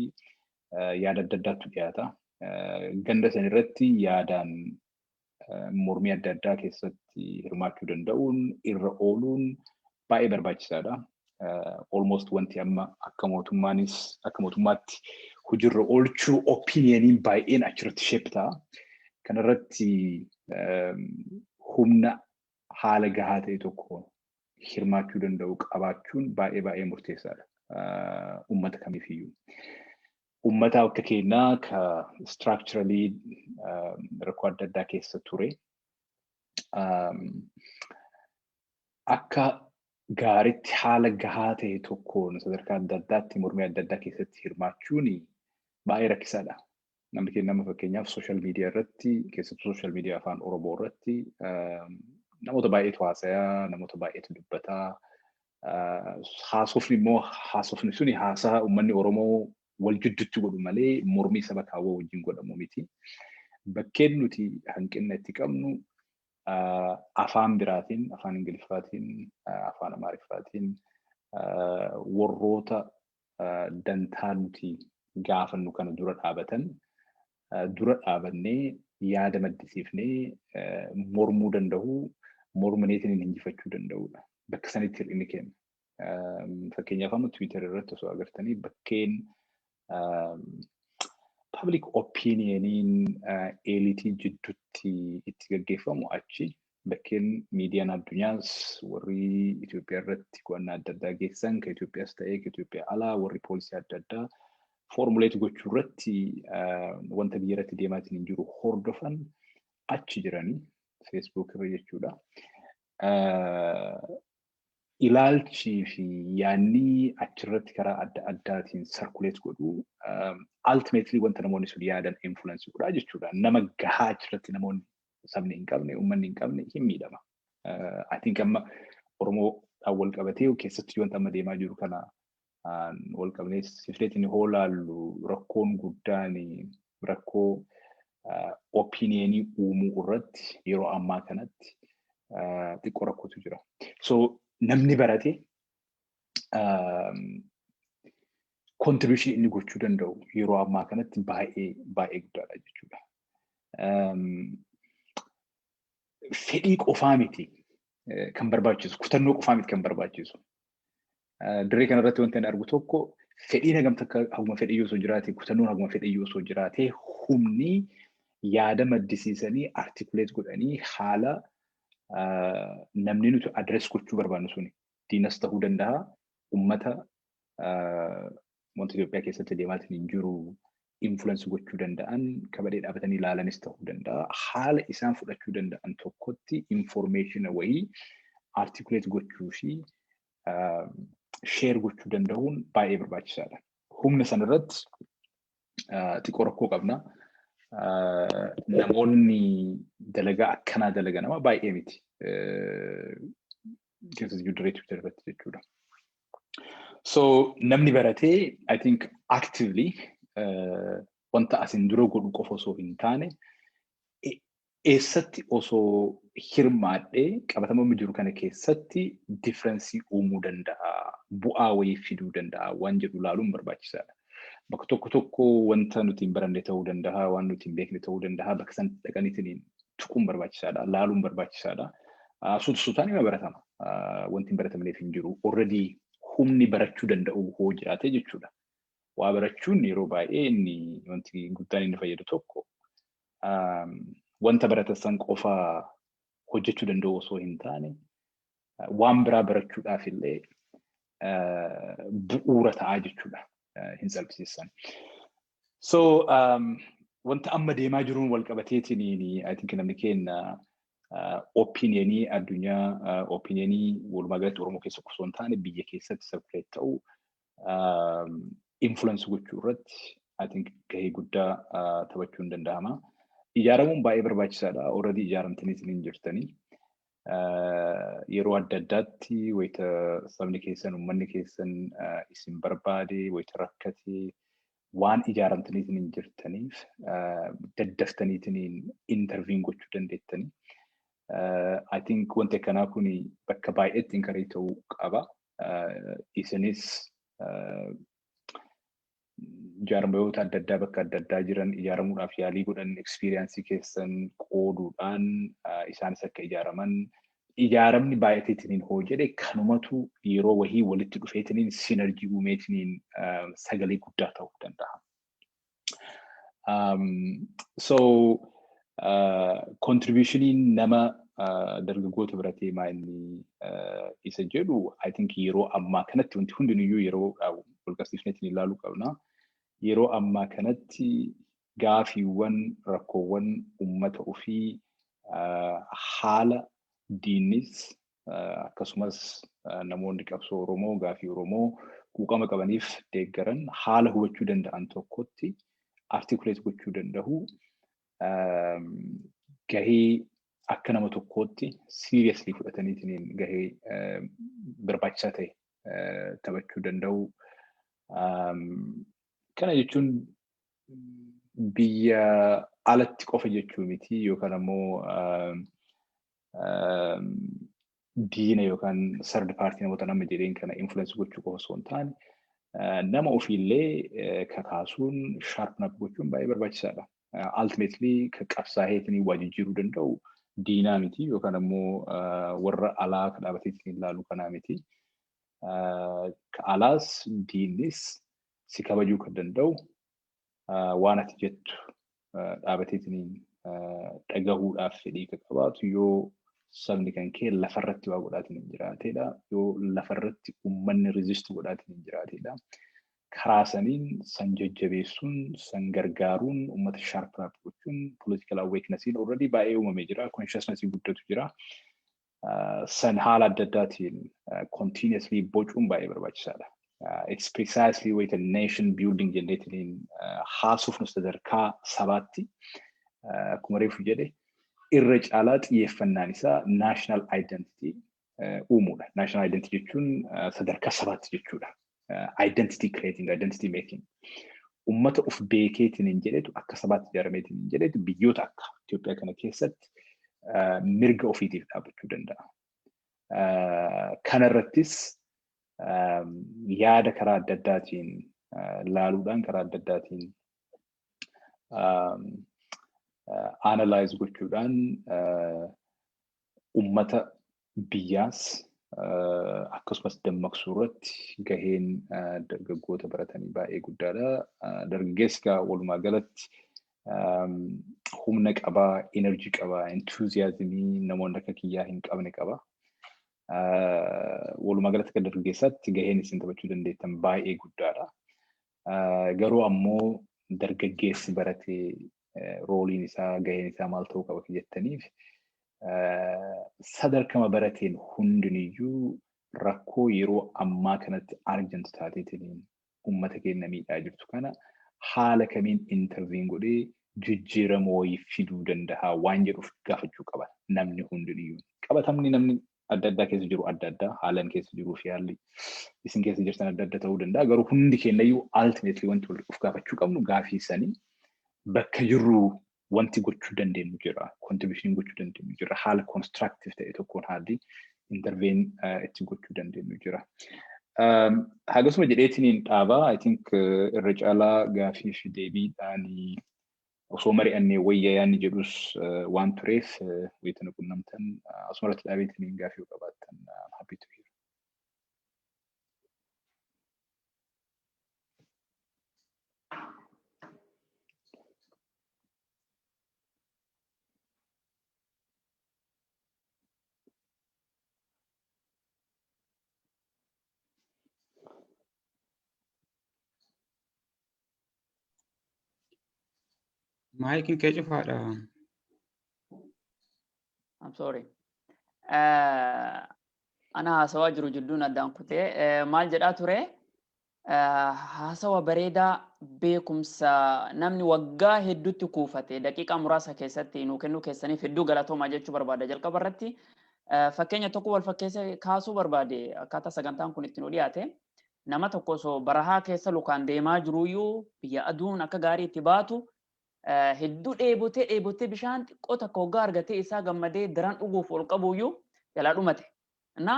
yaada adda addaatu dhiyaata. Ganda san irratti yaadaan mormii adda addaa keessatti hirmaachuu danda'uun irra ooluun baay'ee barbaachisaadha. Almost wanti amma akka mootummaanis akka mootummaatti hojiirra oolchuu opinioniin baay'een achirratti sheep ta'a. Kanarratti humna haala gahaa ta'e tokko hirmaachuu danda'u qabaachuun baay'ee baay'ee murteessaadha uummata kamiifiyyuu. ummataa akka keenyaa ka structurally rakkoo adda addaa keessa ture akka gaaritti haala gahaa ta'e tokkoon sadarkaa adda addaatti mormii adda addaa keessatti hirmaachuun baay'ee rakkisaadha. Namni keenya nama fakkeenyaaf sooshaal miidiyaa irratti keessattuu sooshaal miidiyaa afaan Oromoo irratti namoota baay'eetu haasayaa, namoota baay'eetu dubbataa, haasofni immoo haasofni suni haasaa uummanni Oromoo wal jidduutti godhu malee mormii saba kaawwaa wajjin godhamu miti. Bakkeen nuti hanqinna itti qabnu afaan biraatiin, afaan Ingiliffaatiin, afaan Amaariffaatiin warroota dantaa nuti gaafannu kana dura dhaabatan dura dhaabannee yaada maddisiifnee mormuu danda'u mormaneetiin hin injifachuu danda'udha. Bakka sanitti hir'inni keenya. Fakkeenyaaf amma Tiwiitar irratti osoo agartanii bakkeen public opinioniin eelitii jidduutti itti gaggeeffamu achi Bakkeen miidiyaan addunyaas warri Itoophiyaa irratti qo'annaa adda addaa geessisan kan Itoophiyaas ta'ee kan Itoophiyaa alaa warri poolisii adda addaa foormuleetii gochuu irratti wanta biyya irratti deemaatiin hin jiru hordofan achi jiranii feesbuuk irra jechuudha. Ilaalchii fi yaanni achirratti karaa adda addaatiin sarkuleet godhu ultimately wanta namoonni sun yaadan influence godhaa jechuudha. Nama gahaa achirratti namoonni sabni hin qabne uummanni hin qabne hin miidhama. I think amma Oromoodhaan wal qabatee keessatti wanta amma deemaa jiru kana wal qabnee sifreetiin hoo laallu rakkoon guddaan rakkoo opiniyeenii uumuu irratti yeroo ammaa kanatti xiqqoo rakkootu jira. So namni barate contribution inni gochuu danda'u yeroo ammaa kanatti baay'ee baay'ee guddaadha jechuudha. Fedhii qofaa miti kan barbaachisu, kutannoo qofaa miti kan barbaachisu. Dirree kanarratti wanti ani argu tokko fedhiin hagam takka haguma fedhii osoo jiraate, kutannoon haguma fedhii osoo jiraate humni yaada maddisiisanii artikuleet godhanii haala namni nuti adres gochuu barbaannu suni diinas ta'uu danda'a, ummata wanti Itoophiyaa keessatti deemaatiin hin jiru influence gochuu danda'an kabadee dhaabatanii ilaalanis ta'uu danda'a. Haala isaan fudhachuu danda'an tokkotti information wayii articulate gochuu fi share gochuu danda'uun baay'ee barbaachisaadha. Humna sana irratti xiqqoo rakkoo qabna. Namoonni dalagaa akkanaa dalaga nama baay'ee miti. keessa jiru dirree Twitter irratti jechuudha. So namni baratee I think actively uh, wanta asin dura godhu qofa osoo hin taane e- eessatti osoo hirmaadhee qabatamamni jiru kana keessatti differensii uumuu danda'a bu'aa wayii fiduu danda'a waan jedhu ilaaluun barbaachisaadha. Bakka tokko tokko wanta nuti hin baranne ta'uu danda'a waan nuti hin beekne ta'uu danda'a bakka san dhaqaniitiin tuquun barbaachisaadha, laaluun barbaachisaadha. Suuta suutaan ima baratama. Wanti hin baratamneef hin jiru. Already humni barachuu danda'u hoo jiraate jechuudha. Waa barachuun yeroo baay'ee inni wanti guddaan inni fayyadu tokko wanta baratan san qofa hojjechuu danda'u osoo hin taane waan biraa barachuudhaaf illee bu'uura ta'aa jechuudha. Hin salphisiisan. So wanta amma deemaa jiruun wal qabateetiin I think namni keenya opiniyanii addunyaa opiniyanii walumaa galatti Oromoo keessa osoo hin taane biyya keessatti circulate ta'u influence gochuu irratti I think gahee guddaa taphachuun danda'ama. Ijaaramuun baay'ee barbaachisaadha. Already ijaaramtaniitiin hin jirtanii. yeroo adda addaatti wayita sabni keessan uummanni keessan isin barbaade wayita rakkate waan ijaaramtaniitiin hin jirtaniif daddaftaniitiin interviin gochuu dandeettanii. I think wanti akkanaa kun bakka baay'eetti inkarii ta'uu qaba. Isinis jaarmayoota adda addaa bakka adda addaa jiran ijaaramuudhaaf yaalii godhan ekspiriyaansii keessan qooduudhaan isaanis akka ijaaraman ijaaramni baay'ateetiniin hoo jedhe kanumatu yeroo wahii walitti dhufeetiniin sinarjii uumeetiniin sagalee guddaa ta'uu danda'a. So Kontribuushiniin nama dargaggoota biratti maa inni isa jedhu I think yeroo ammaa kanatti wanti hundinuyyuu yeroo walqabsiifnetti ni ilaaluu qabna. Yeroo ammaa kanatti gaafiiwwan rakkoowwan uummata ofii haala diinnis akkasumas namoonni qabsoo Oromoo gaafii Oromoo quuqama qabaniif deeggaran haala hubachuu danda'an tokkotti articulate gochuu danda'u gahee akka nama tokkootti seriously fudhataniitiin gahee barbaachisaa ta'e taphachuu danda'u. Kana jechuun biyya alatti qofa jechuu miti yookaan ammoo diina yookaan sardi paartii namoota nama jedheen kana influence gochuu qofa osoo hin taane nama ofiillee kakaasuun sharpen up gochuun baay'ee barbaachisaadha. Ultimately kan qabsaa'eetiin waa jijjiiruu danda'u diinaa miti yookaan ammoo warra alaa kan dhaabateetiin ilaalu kanaa miti. Ka alaas diinnis si kabajuu kan danda'u waan ati jettu dhaabateetiniin dhagahuudhaaf fedhii kan qabaatu yoo sabni kan kee lafarratti waa godhaatiin hin jiraateedha. Yoo lafarratti uummanni riziist godhaatiin hin jiraateedha. Karaa saniin san jajjabeessuun, san gargaaruun, uummata sharp up gochuun, political awakenessiin already baay'ee uumamee jira, consciousnessii guddatu jira. san haala adda addaatiin continuously bocuun baay'ee barbaachisaadha. It's precisely wayita nation building jenneetiin haasofnu sadarkaa sabaatti akkuma reefu jedhe irra caalaa xiyyeeffannaan isaa national identity uumuudha. National identity jechuun sadarkaa sabaatti jechuudha. identity creating, identity making. Uummata of beekeetiin hin jedhetu akka sabaatti ijaarameetiin hin jedhetu biyyoota akka Itoophiyaa kana keessatti mirga ofiitiif dhaabachuu danda'a. Kanarrattis yaada karaa adda addaatiin laaluudhaan karaa adda addaatiin analyze gochuudhaan uummata biyyaas akkasumas dammaqsuu irratti gaheen dargaggoota baratanii baay'ee guddaadha. Dargaggeessi egaa walumaa galatti humna qabaa, energy qabaa, enthusiasm namoonni akka kiyyaa hin qabne qaba. Walumaa galatti akka dargaggeessaatti gaheen isin taphachuu dandeettan baay'ee guddaadha. Garuu ammoo dargaggeessi barate rooliin isaa gaheen isaa maal ta'uu qaba jettaniif sadarkama barateen hundiniyyuu rakkoo yeroo ammaa kanatti argamtu taateetiin uummata keenya miidhaa jirtu kana haala kamiin interviin godhee jijjiirama wayii fiduu danda'a waan jedhuuf gaafachuu qaba namni hundiniyyuu. Qabatamni namni adda addaa keessa jiru adda addaa haalan keessa jiruu fi haalli isin keessa jirtan adda adda ta'uu danda'a garuu hundi keenyayyuu ultimately wanti wal of gaafachuu qabnu gaafii sanii bakka jirru wanti gochuu dandeenyu jira contribution gochuu dandeenyu jira haala constructive ta'e tokkoon haalli intervene itti gochuu dandeenyu jira. Hagasuma jedheetiin dhaabaa I think irra caalaa gaafii fi deebiidhaan osoo mari'annee wayya yaanni jedhus waan tureef wayita nu qunnamtan asumarratti dhaabeetiniin gaafii yoo qabaattan happy to hear. Maayikiin kee cufaadha. I'm sorry. Eh, Ana haasawaa jiru jidduun addaan kutee eh, maal jedhaa ture? Eh, Haasawa bareedaa beekumsa namni waggaa hedduutti kuufate daqiiqaa muraasa keessatti nuu kennuu keessaniif hedduu galatoomaa jechuu barbaada. Jalqaba irratti eh, fakkeenya tokko wal fakkeessee kaasuu barbaade akkaataa sagantaan kun itti nu dhiyaate. Nama tokko osoo barahaa keessa lukaan deemaa jiruuyyuu biyya aduun akka gaarii itti baatu hedduu dheebotee dheebotee bishaan xiqqoo takka hoggaa argatee isaa gammadee daran dhuguuf ol qabuuyyuu jalaa dhumate. Na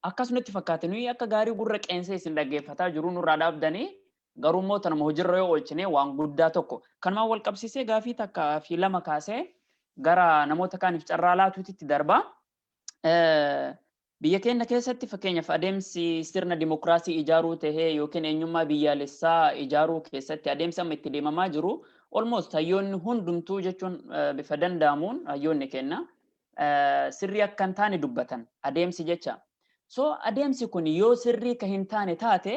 akkas nutti fakkaate nuyi akka gaarii gurra qeensee isin dhaggeeffataa jiruu nurraa dhaabdanii garuu immoo tanuma hojirra yoo oolchine waan guddaa tokko. Kanumaan wal qabsiisee gaafii takka fi lama kaasee gara namoota kaaniif carraa laatuutitti darba. Biyya keenya keessatti fakkeenyaaf adeemsi sirna dimokiraasii ijaaruu tahee yookiin eenyummaa biyyaalessaa ijaaruu keessatti adeemsi amma itti deemamaa jiru almost hayyoonni hundumtuu jechuun bifa danda'amuun hayyoonni keenya sirrii akka hin taane dubbatan adeemsi jecha. So adeemsi kun yoo sirrii ka hin taane taate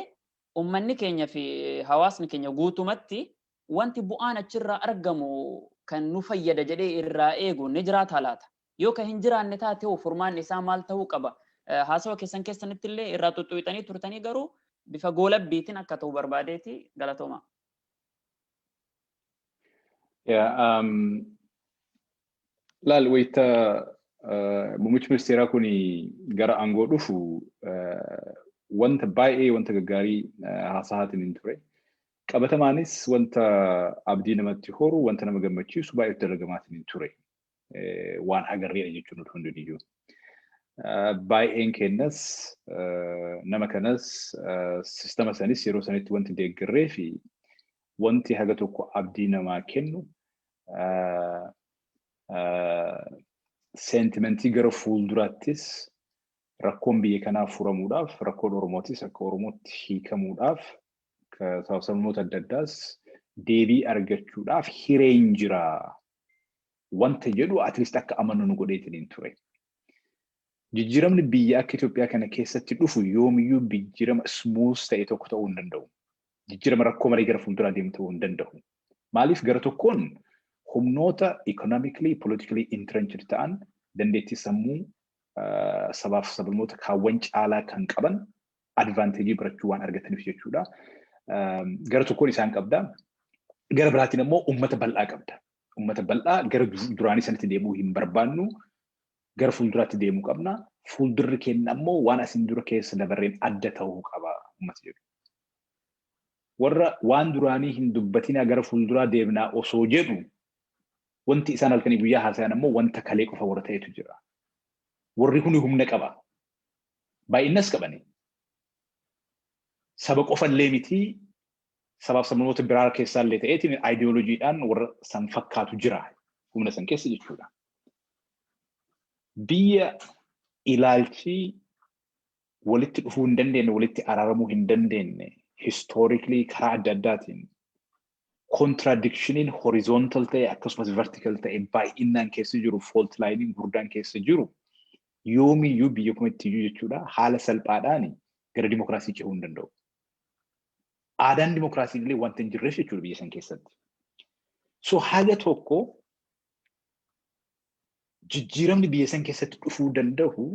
ummanni keenya fi hawaasni keenya guutumatti wanti bu'aan achirraa argamu kan nu fayyada jedhee irraa eegu ni jiraataa laata? Yoo kan hin jiraanne taate hoo furmaanni isaa maal ta'uu qaba? Haasawa keessan keessanitti illee irraa xuxxuwixanii turtanii garuu bifa goolabbiitiin akka ta'u barbaadeeti galatooma. Yeah, um, laal wayita uh, muummichi ministeeraa kun gara aangoo dhufu uh, wanta baay'ee wanta gaggaarii uh, haasa'aatiin hin ture. Qabatamaanis wanta abdii namatti horu, wanta nama gammachiisu baay'eetu dalagamaatiin hin ture. waan agarreera jechuun utuu hin duniyyuu. Baay'een keenyas nama kanas sistama sanis yeroo sanitti wanti deeggarree fi wanti haga tokko abdii namaa kennu seentimentii gara fuulduraattis rakkoon biyya kanaa furamuudhaaf rakkoon Oromootis akka Oromootti hiikamuudhaaf sababnoota adda addaas deebii argachuudhaaf hireen jira wanta jedhu at least akka amannu nu godheetiniin ture. Jijjiiramni biyya akka Itoophiyaa kana keessatti dhufu yoomiyyuu jijjiirama smooth ta'e tokko ta'uu hin danda'u. Jijjiirama rakkoo malee gara fuulduraa deemu ta'uu hin danda'u. Maaliif gara tokkoon humnoota economically, politically entrenched ta'an dandeettii sammuu sabaaf sablammoota kaawwan caalaa kan qaban advantage birachuu waan argataniif jechuudha. Gara tokkoon isaan qabda. Gara biraatiin ammoo uummata bal'aa qabda. Uummata bal'aa gara duraanii sanatti deemuu hin barbaannu. Gara fuulduraatti deemuu qabna. Fuuldurri keenya ammoo waan asiin dura keessa dabarreen adda ta'uu qaba uummata jedhu. Warra waan duraanii hin dubbatinaa gara fuulduraa deemnaa osoo jedhu wanti isaan halkanii guyyaa haasa'an ammoo wanta kalee qofa warra ta'etu jira. Warri kun humna qaba. baay'innas qabanii saba qofallee mitii sabaaf sabnoota biraa keessaallee ta'eetiin aayidiyooloojiidhaan warra san fakkaatu jira humna san keessa jechuudha. Biyya ilaalchi walitti dhufuu hin dandeenye, walitti araaramuu hin dandeenye, histoorikli karaa adda addaatiin Kontiraadikshiniin horizontal ta'e akkasumas vertical ta'e baay'innaan keessa jiru fault line gurdaan keessa jiru yoomiyyuu biyya kamittiyyuu jechuudha haala salphaadhaan gara dimokiraasii cehuu hin danda'u. Aadaan dimokiraasii illee wanta hin jirreef jechuudha biyya san keessatti. So haga tokko jijjiiramni biyya san keessatti dhufuu danda'u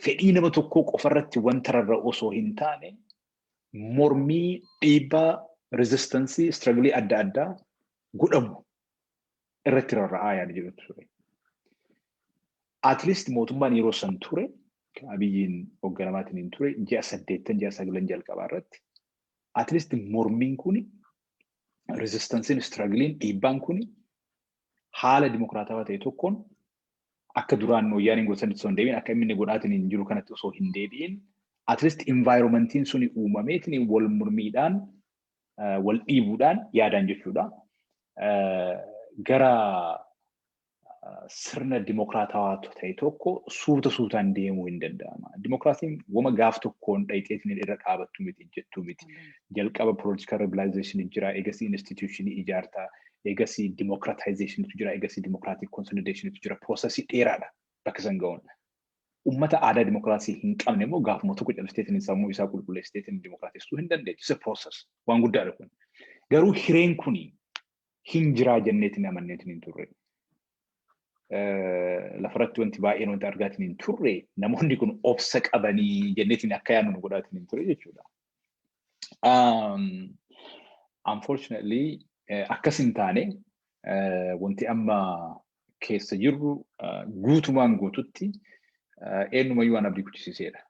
fedhii nama tokkoo qofarratti wanta rarra'u osoo hin taane mormii, dhiibbaa, rezistansii, istiragilii adda addaa godhamu irratti rarra'aa yaada jedhutu ture. At least mootummaan yeroo san ture kan abiyyiin hogganamaatiin hin ture ji'a saddeettan ji'a sagalan jalqabaa irratti at least mormiin kuni rezistansiin istiragiliin dhiibbaan kuni haala dimokiraatawaa ta'e tokkoon akka duraan wayyaaniin godhu sanitti osoo hin deebiin akka inni godhaatiin jiru kanatti osoo hin deebiin at least environmentiin suni uumameetiin wal mormiidhaan wal dhiibuudhaan yaadaan jechuudha. Gara sirna dimokiraatawaa ta'e tokko suuta suutaan deemuu hin danda'ama. Dimokiraasiin wama gaaf tokkoon dhayxeetiin irra dhaabattu miti jettuu miti. Jalqaba political realization jira, eegasii institutionii ijaarta, eegasii democratizationitu jira, eegasii democratic consolidationitu jira. Piroosesii dheeraadha bakka san ga'uun. Ummata aadaa demokiraasii hin qabne immoo gaafuma tokko callisteetiin sammuu isaa qulqulleessiteetiin demokiraatessuu hin dandeechu. It's a process. Waan guddaadha kun. Garuu hireen kun hin jiraa jenneetiin amanneetiin hin turre. Lafarratti wanti baay'een wanti argaatiin hin turre namoonni kun obsa qabanii jenneetiin akka yaadnu nu godhaatiin hin ture jechuudha. Unfortunately akkas hin taane wanti amma keessa jirru guutumaan guututti eenyumayyuu waan abdii kuchisiiseedha.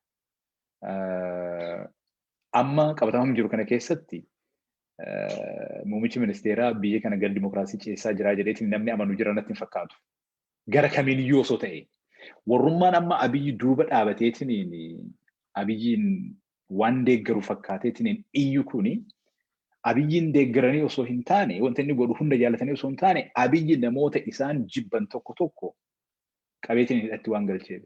Amma qabatama jiru kana keessatti muummichi ministeeraa biyya kana gara dimokiraasii ceessaa jiraa jedheetiin namni amanu jira natti hin fakkaatu. Gara kamiiniyyuu osoo ta'e warrummaan amma abiyyi duuba dhaabateetiin abiyyiin waan deeggaru fakkaateetiin hin iyyu kuni abiyyiin deeggaranii osoo hin taane wanta inni godhu hunda jaalatanii osoo hin taane abiyyi namoota isaan jibban tokko tokko qabeetiin hidhatti waan galcheef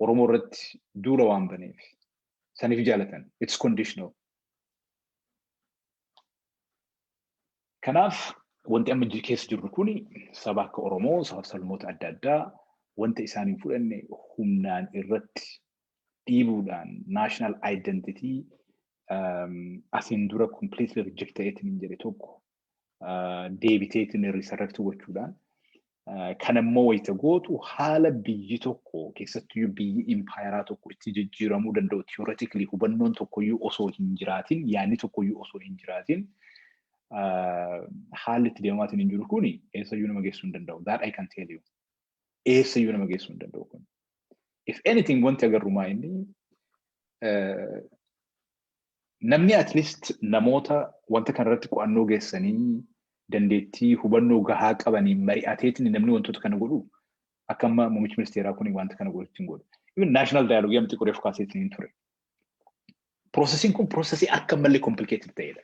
Oromoo irratti duula waan baneef saniif jaalatan it's conditional. Kanaaf wanti amma keessa jirru kun saba akka Oromoo sabaf sablammoota adda addaa wanta isaan hin fudhanne humnaan irratti dhiibuudhaan national identity asiin dura completely reject ta'eetiin hin jedhe tokko deebiteetiin resurrect gochuudhaan kan immoo wayita gootu haala biyyi tokko keessattuu biyyi impaayeraa tokko itti jijjiiramuu danda'u theoretically hubannoon tokkoyyuu osoo hin jiraatin yaadni tokkoyyuu osoo hin jiraatin haalli itti deemaatiin hin jiru kuni eessayyuu nama geessuu hin danda'u. That I can tell you. eessa iyyuu nama geessuu hin danda'u kun. If anything wanti agarru maa inni namni at least namoota wanta kana irratti qo'annoo geessanii dandeettii hubannoo gahaa qabanii mari'ateetiin namni wantoota kana godhu akka amma muummichi ministeeraa kun wanta kana godhu ittiin godhu. Even national dialogue amti qoree fukaasee ittiin ture. Proosesiin kun proosesii akka malee complicated ta'edha.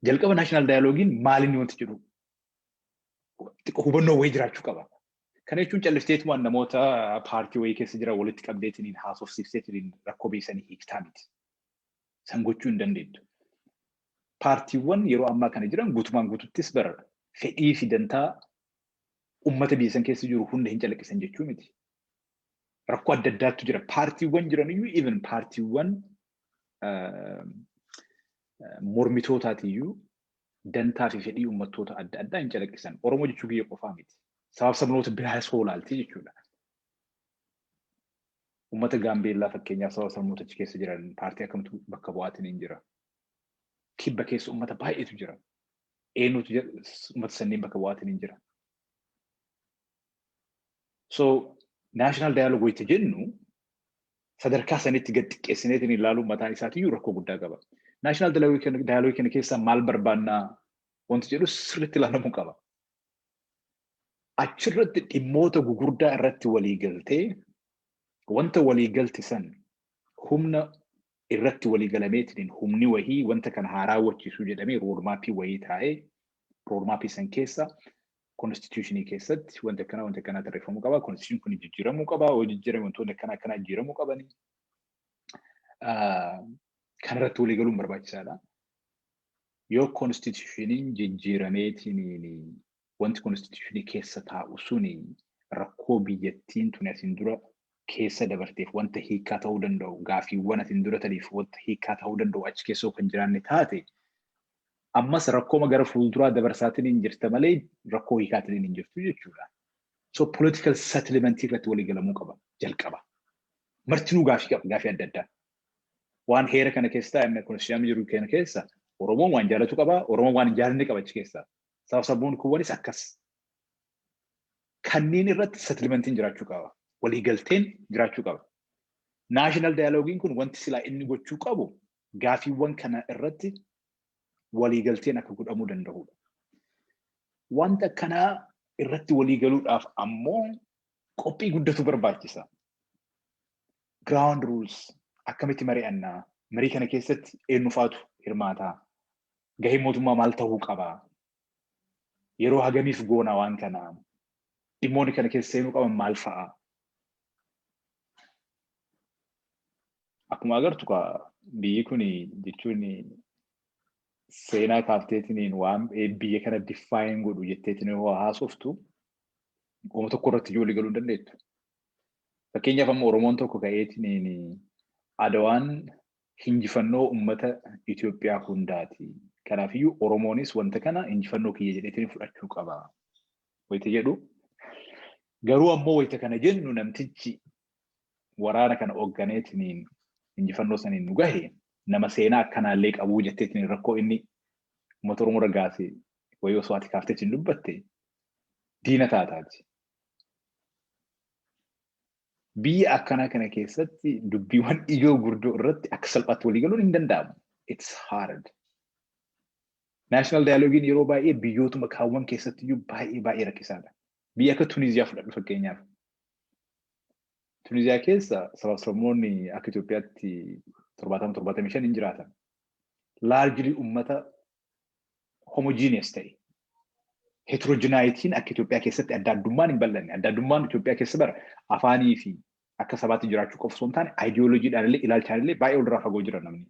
Jalqaba national dialoguein maalinni wanti jedhu xiqqoo hubannoo wayii jiraachuu qaba. Kana jechuun callifteetumaan namoota paartii wayii keessa jiran walitti qabdeetiniin haasofsiifteetiniin rakkoo beeksanii hiiktaa miti. San gochuu hin dandeettu. Paartiiwwan yeroo ammaa kana jiran guutumaan guututtis bara fedhii fi dantaa uummata biyya san keessa jiru hunda hin calaqqisan jechuu miti. Rakkoo adda addaattu jira. Paartiiwwan jiran iyyuu even paartiiwwan mormitootaati iyyuu dantaa fi fedhii uummattoota adda addaa hin calaqqisan. Oromoo jechuu kiyya qofaa miti. Sabaaf sabnoota biraas hoo ilaaltee jechuudha. Uummata Gaambeellaa fakkeenyaaf sabaaf sabnoota achi keessa jiran paartii akkamtu bakka bu'aatiin hin jira. Kibba keessa uummata baay'eetu jira. Eenyutu jira- uummata sanneen bakka bu'aatiin hin jira. So, national dialogue wayita jennu sadarkaa sanitti gad xiqqeessineetiin ilaaluun mataan isaatiyyuu rakkoo guddaa qaba. Naashinaal daayaloogii kana keessaa maal barbaannaa wanti jedhu sirriitti ilaalamuu qaba. Achirratti dhimmoota gugurdaa irratti walii galtee wanta walii galte san humna irratti walii galameetiin humni wahii wanta kana haa raawwachiisuu jedhamee roodmaappii wahii taa'ee roodmaappii san keessa Konstituushinii keessatti wanti akkanaa wanti akkanaa tarreeffamuu qaba. Konstituushinii kun jijjiiramuu qaba. Yoo jijjiirame wantoonni akkanaa akkanaa jijjiiramuu qabani. Kan irratti walii galuun barbaachisaadha. Yoo konstituushiniin jijjiirameetiin wanti konstituushinii keessa taa'u suni rakkoo biyyattiin tuni asiin dura keessa dabarteef wanta hiikaa ta'uu danda'u gaafiiwwan asiin dura taniif wanta hiikaa ta'uu danda'u achi keessoo kan jiraanne taate Ammas rakkooma gara fuulduraa dabarsaatiniin jirta malee rakkoo hiikaatiniin hin jirtu jechuudha. So political settlement irratti walii galamuu qaba jalqaba. Martinuu gaafii qaba gaafii adda addaa. Waan heera kana keessaa amma konstituushinii jiru kana keessa Oromoon waan jaalatu qaba, Oromoon waan hin jaalanne qaba achi keessaa. Saba sabboon kuwwanis akkas. Kanneen irratti settlementiin jiraachuu qaba. Walii galteen jiraachuu qaba. National dialogiin kun wanti silaa inni gochuu qabu gaafiiwwan kana irratti waliigalteen akka godhamuu danda'udha. Wanta akkanaa irratti waliigaluudhaaf ammoo qophii guddatu barbaachisa. Ground rules akkamitti mari'annaa? Marii kana keessatti eenyufaatu hirmaataa? Gahee mootummaa maal ta'uu qaba? Yeroo hagamiif goona waan kana? Dhimmoonni kana keessa seenuu qaban maal fa'a? Akkuma agartu kaa biyyi kun jechuun seenaa kaafteetiniin waan biyya kana diffaayin godhu jetteetiin yoo haasoftu uuma tokko irratti ijoollee galuu hin dandeettu. Fakkeenyaaf amma Oromoon tokko ka'eetiniin Adawaan injifannoo uummata Itoophiyaa hundaati. Kanaafiyyuu Oromoonis wanta kana injifannoo kiyya jedheetiin fudhachuu qaba. wayita jedhu garuu ammoo wayita kana jennu namtichi waraana kana hoogganeetiniin injifannoo saniin nu gahe nama seenaa akkanaallee qabuu jetteetiin rakkoo inni uummata Oromoo irra gaase wayii osoo ati kaafteetiin dubbatte diina taataati. Biyya akkanaa kana keessatti dubbiiwwan ijoo gurdoo irratti akka salphaatti walii galuun hin danda'amu. It's hard. National Dialogiin yeroo baay'ee biyyootuma kaawwan keessatti iyyuu baay'ee baay'ee rakkisaadha. Biyya akka Tuniziyaa fudhadhu fakkeenyaaf. Tuniziyaa keessa sabaaf sabmoonni akka Itoophiyaatti 70-75 hin jiraatan. Largely ummata homogeneous ta'e. Heterogenaayitiin akka Itoophiyaa keessatti adda addummaan hin bal'anne. Adda addummaan Itoophiyaa keessa bara afaanii fi akka sabaatti jiraachuu qofa osoo hin taane ideologiidhaan illee ilaalchaan illee baay'ee walirraa fagoo jira namni.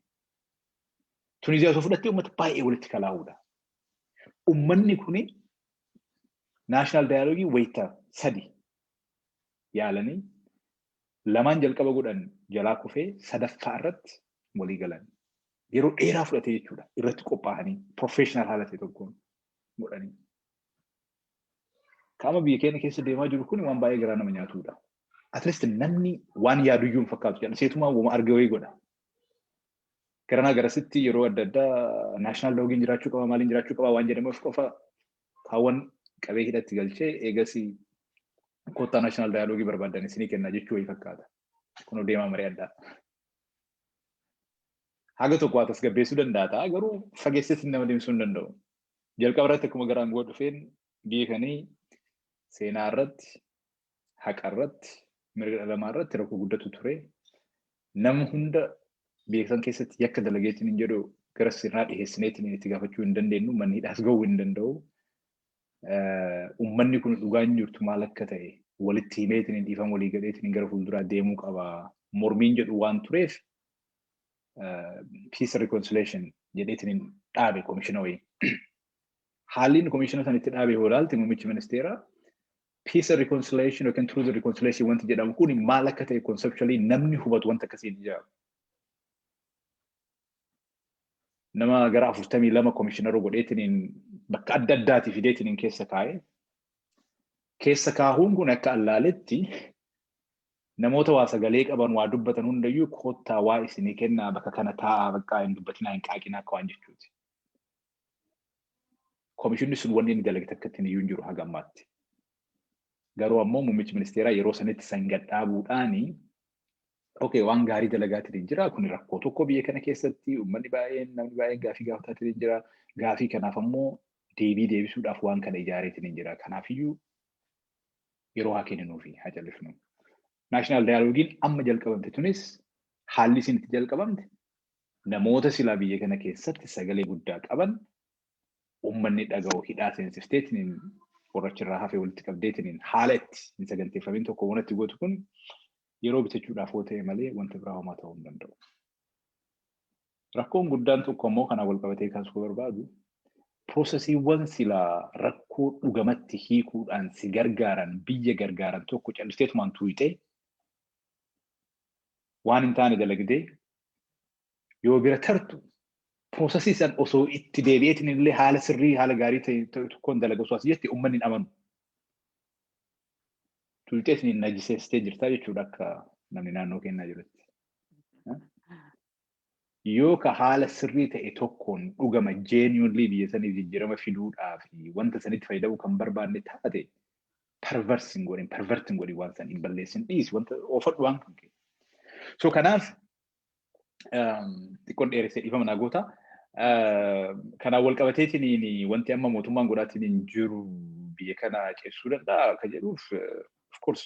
Tuniziyaa osoo fudhattee uummata baay'ee walitti kalaa'uudha. Uummanni kuni naashinaal daayaloogii wayita sadi yaalanii lamaan jalqaba godhan jalaa kufee sadaffaa irratti walii galan. Yeroo dheeraa fudhatee jechuudha irratti qophaa'anii professional haala ta'e tokkoon godhanii. Kaama biyya keenya keessa deemaa jiru kun waan baay'ee garaa nama nyaatudha. At least namni waan yaaduyyuu hin fakkaatu jedhan seetumaa wama arge wayii godha. Garanaa garasitti yeroo adda addaa naashinaal loogiin jiraachuu qaba maaliin jiraachuu qaba waan jedhamuuf qofa kaawwan qabee hidhatti galchee eegasii koottaa naashinaal daayaloogii barbaadan isinii kenna jechuu wayii fakkaata. Kunoo deemaa marii addaa. Haga tokko waa tasgabbeessuu danda'a ta'a garuu fageessetti nama deemsisuu hin danda'u. Jalqaba irratti akkuma gara aangoo dhufeen biyya kanii seenaa irratti haqa irratti, mirga dhala namaa irratti rakkoo guddatu ture. Nama hunda biyya san keessatti yakka dalageetiin hin jedhu gara sirnaa dhiheessineetiin itti gaafachuu hin dandeenyu, manni hidhaas gahuu hin danda'u. Uummanni kun dhugaan jirtu maal akka ta'e walitti himeetiin hin dhiifan walii galeetiin gara fuulduraa deemuu qaba. Mormiin jedhu waan tureef peace reconciliation jedheetiin hin dhaabe komishina wayii. Haalli inni komishina sana itti dhaabe yoo ilaalte muummichi ministeeraa Peace and reconciliation yookiin truth and reconciliation wanti jedhamu kun maal akka ta'e conceptually namni hubatu wanta akkasii hin ijaaru. Nama gara afurtamii lama komishinara godheetiin bakka adda addaatii fideetiin keessa kaa'e. Keessa kaahuun kun akka allaaletti namoota waa sagalee qaban waa dubbatan hundayyuu koottaa waa isinii kennaa bakka kana taa'aa bakka hin dubbatinaa hin qaaqinaa akka waan jechuuti. Komishinni sun wanni inni dalage takka ittiin iyyuu hin jiru haga ammaatti. Garuu ammoo muummichi ministeeraa yeroo sanitti san gad dhaabuudhaani okay waan gaarii dalagaatiin hin jira kun rakkoo tokko biyya kana keessatti uummanni baay'een namni baay'een gaafii gaafataatiin hin jira gaafii kanaaf ammoo deebii deebisuudhaaf waan kana ijaareetiin hin jira kanaafiyyuu yeroo haa kenninuufi haa callisnu. Naashinaal daayiloogiin amma jalqabamte tunis haalli isin itti jalqabamte Namoota silaa biyya kana keessatti sagalee guddaa qaban ummanni dhaga'u hidhaa seensifteetiniin warra achirraa hafe walitti qabdeetiniin haala itti hin saganteeffamin tokko waan itti gootu kun yeroo bitachuudhaaf yoo ta'e malee wanta biraa homaa ta'uu hin danda'u. Rakkoon guddaan tokko ammoo kanaan wal qabatee kaasuu barbaadu piroosesiiwwan silaa rakkoo dhugamatti hiikuudhaan si gargaaran biyya gargaaran tokko callisteetumaan tuuyxee waan hin taane dalagdee yoo bira tartu piroosesii san osoo itti deebi'eetiin illee haala sirrii haala gaarii ta'e ta'e tokkoon dalaga osoo as jette uummanni hin amanu. Tuuxeetiin hin najiseessitee jirtaa jechuudha akka namni naannoo kennaa jirutti. Yoo ka haala sirrii ta'e tokkoon dhugama genuinely biyya saniif jijjiirama fiduudhaa fi wanta sanitti fayyadamuu kan barbaanne taate perverse hin godhin pervert hin godhin waan san hin balleessin dhiisi wanta oofadhu waan kan kee so kanaaf um, xiqqoon dheeressee dhiifama naa goota Uh, kanaan wal qabateetiin wanti amma mootummaan godhaatiin hin jiru biyya kana ceessuu danda'a akka jedhuuf uh, of course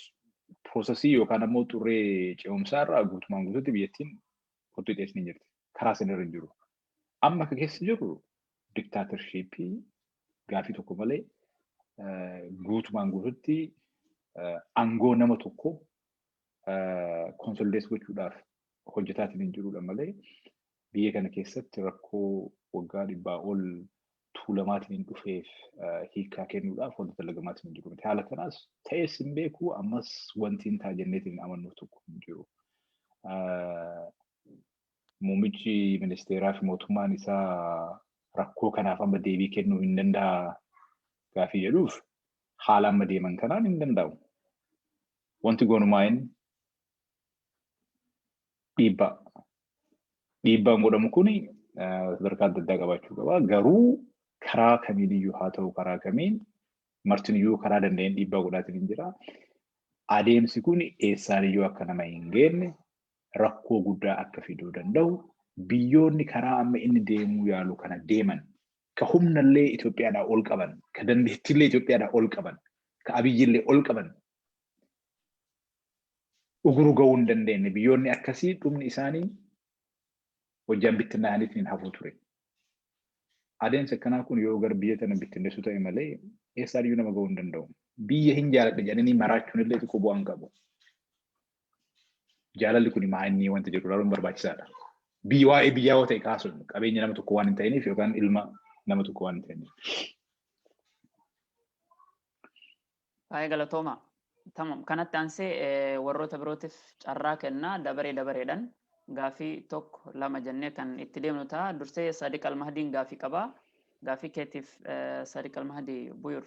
prosesii yookaan ammoo xurree ce'umsaa irraa guutumaan guutuutti biyyattiin Kottu itti isni jirti. Karaa isin irra hin jiru. Amma akka keessa jirru diktaatershiippii gaafii tokko malee guutumaan guututti aangoo nama tokko konsolidees gochuudhaaf hojjetaatiin hin jirudha malee biyya kana keessatti rakkoo waggaa dhibbaa ol tuulamaatiin dhufeef hiikaa kennuudhaaf wanta dalagamaatiin hin jiru miti. Haala kanaas ta'ees hin beeku ammas wanti hin ta'a jenneetiin hin amannu tokko hin jiru. Muummichi ministeeraa fi mootummaan isaa rakkoo kanaaf amma deebii kennuu hin danda'a gaafii jedhuuf haala amma deeman kanaan hin danda'u. Wanti gonumaa'in dhiibbaa. Dhiibbaan godhamu kun sadarkaa adda addaa qabaachuu qaba. Garuu karaa kamiin iyyuu haa ta'u karaa kamiin martin iyyuu karaa danda'een dhiibbaa godhaatiin hin jira. Adeemsi kun eessaan iyyuu akka nama hin geenne rakkoo guddaa akka fiduu danda'u biyyoonni karaa amma inni deemuu yaalu kana deeman ka humnallee Itoophiyaadhaa ol qaban ka dandeettiillee Itoophiyaadhaa ol qaban ka abiyyillee ol qaban uguru ga'uu hin dandeenye. Biyyoonni akkasii dhumni isaanii hojjaan bittinnaa'aniitiin hin hafuu ture. Adeemsi akkanaa kun yoo gara biyya tana bittinneessuu ta'e malee eessaan iyyuu nama ga'uu hin danda'u. Biyya hin jaaladhe jedhanii maraachuun illee xiqqoo bu'aa hin qabu. Jaalalli kun maa inni wanta jedhu ilaaluun barbaachisaadha. Biyya waa'ee biyyaa yoo ta'e kaasuun qabeenya nama tokko waan hin ta'iniif yookaan ilma nama tokko waan hin ta'iniif. Baay'ee galatooma. Tamam. Kanatti aansee warroota birootiif carraa kennaa dabaree dabareedhaan gaafii tokko lama jennee kan itti deemnu ta'a. Dursee Sadiq Almahdiin gaafii qaba. Gaafii keetiif Sadiq Almahdi Buyur.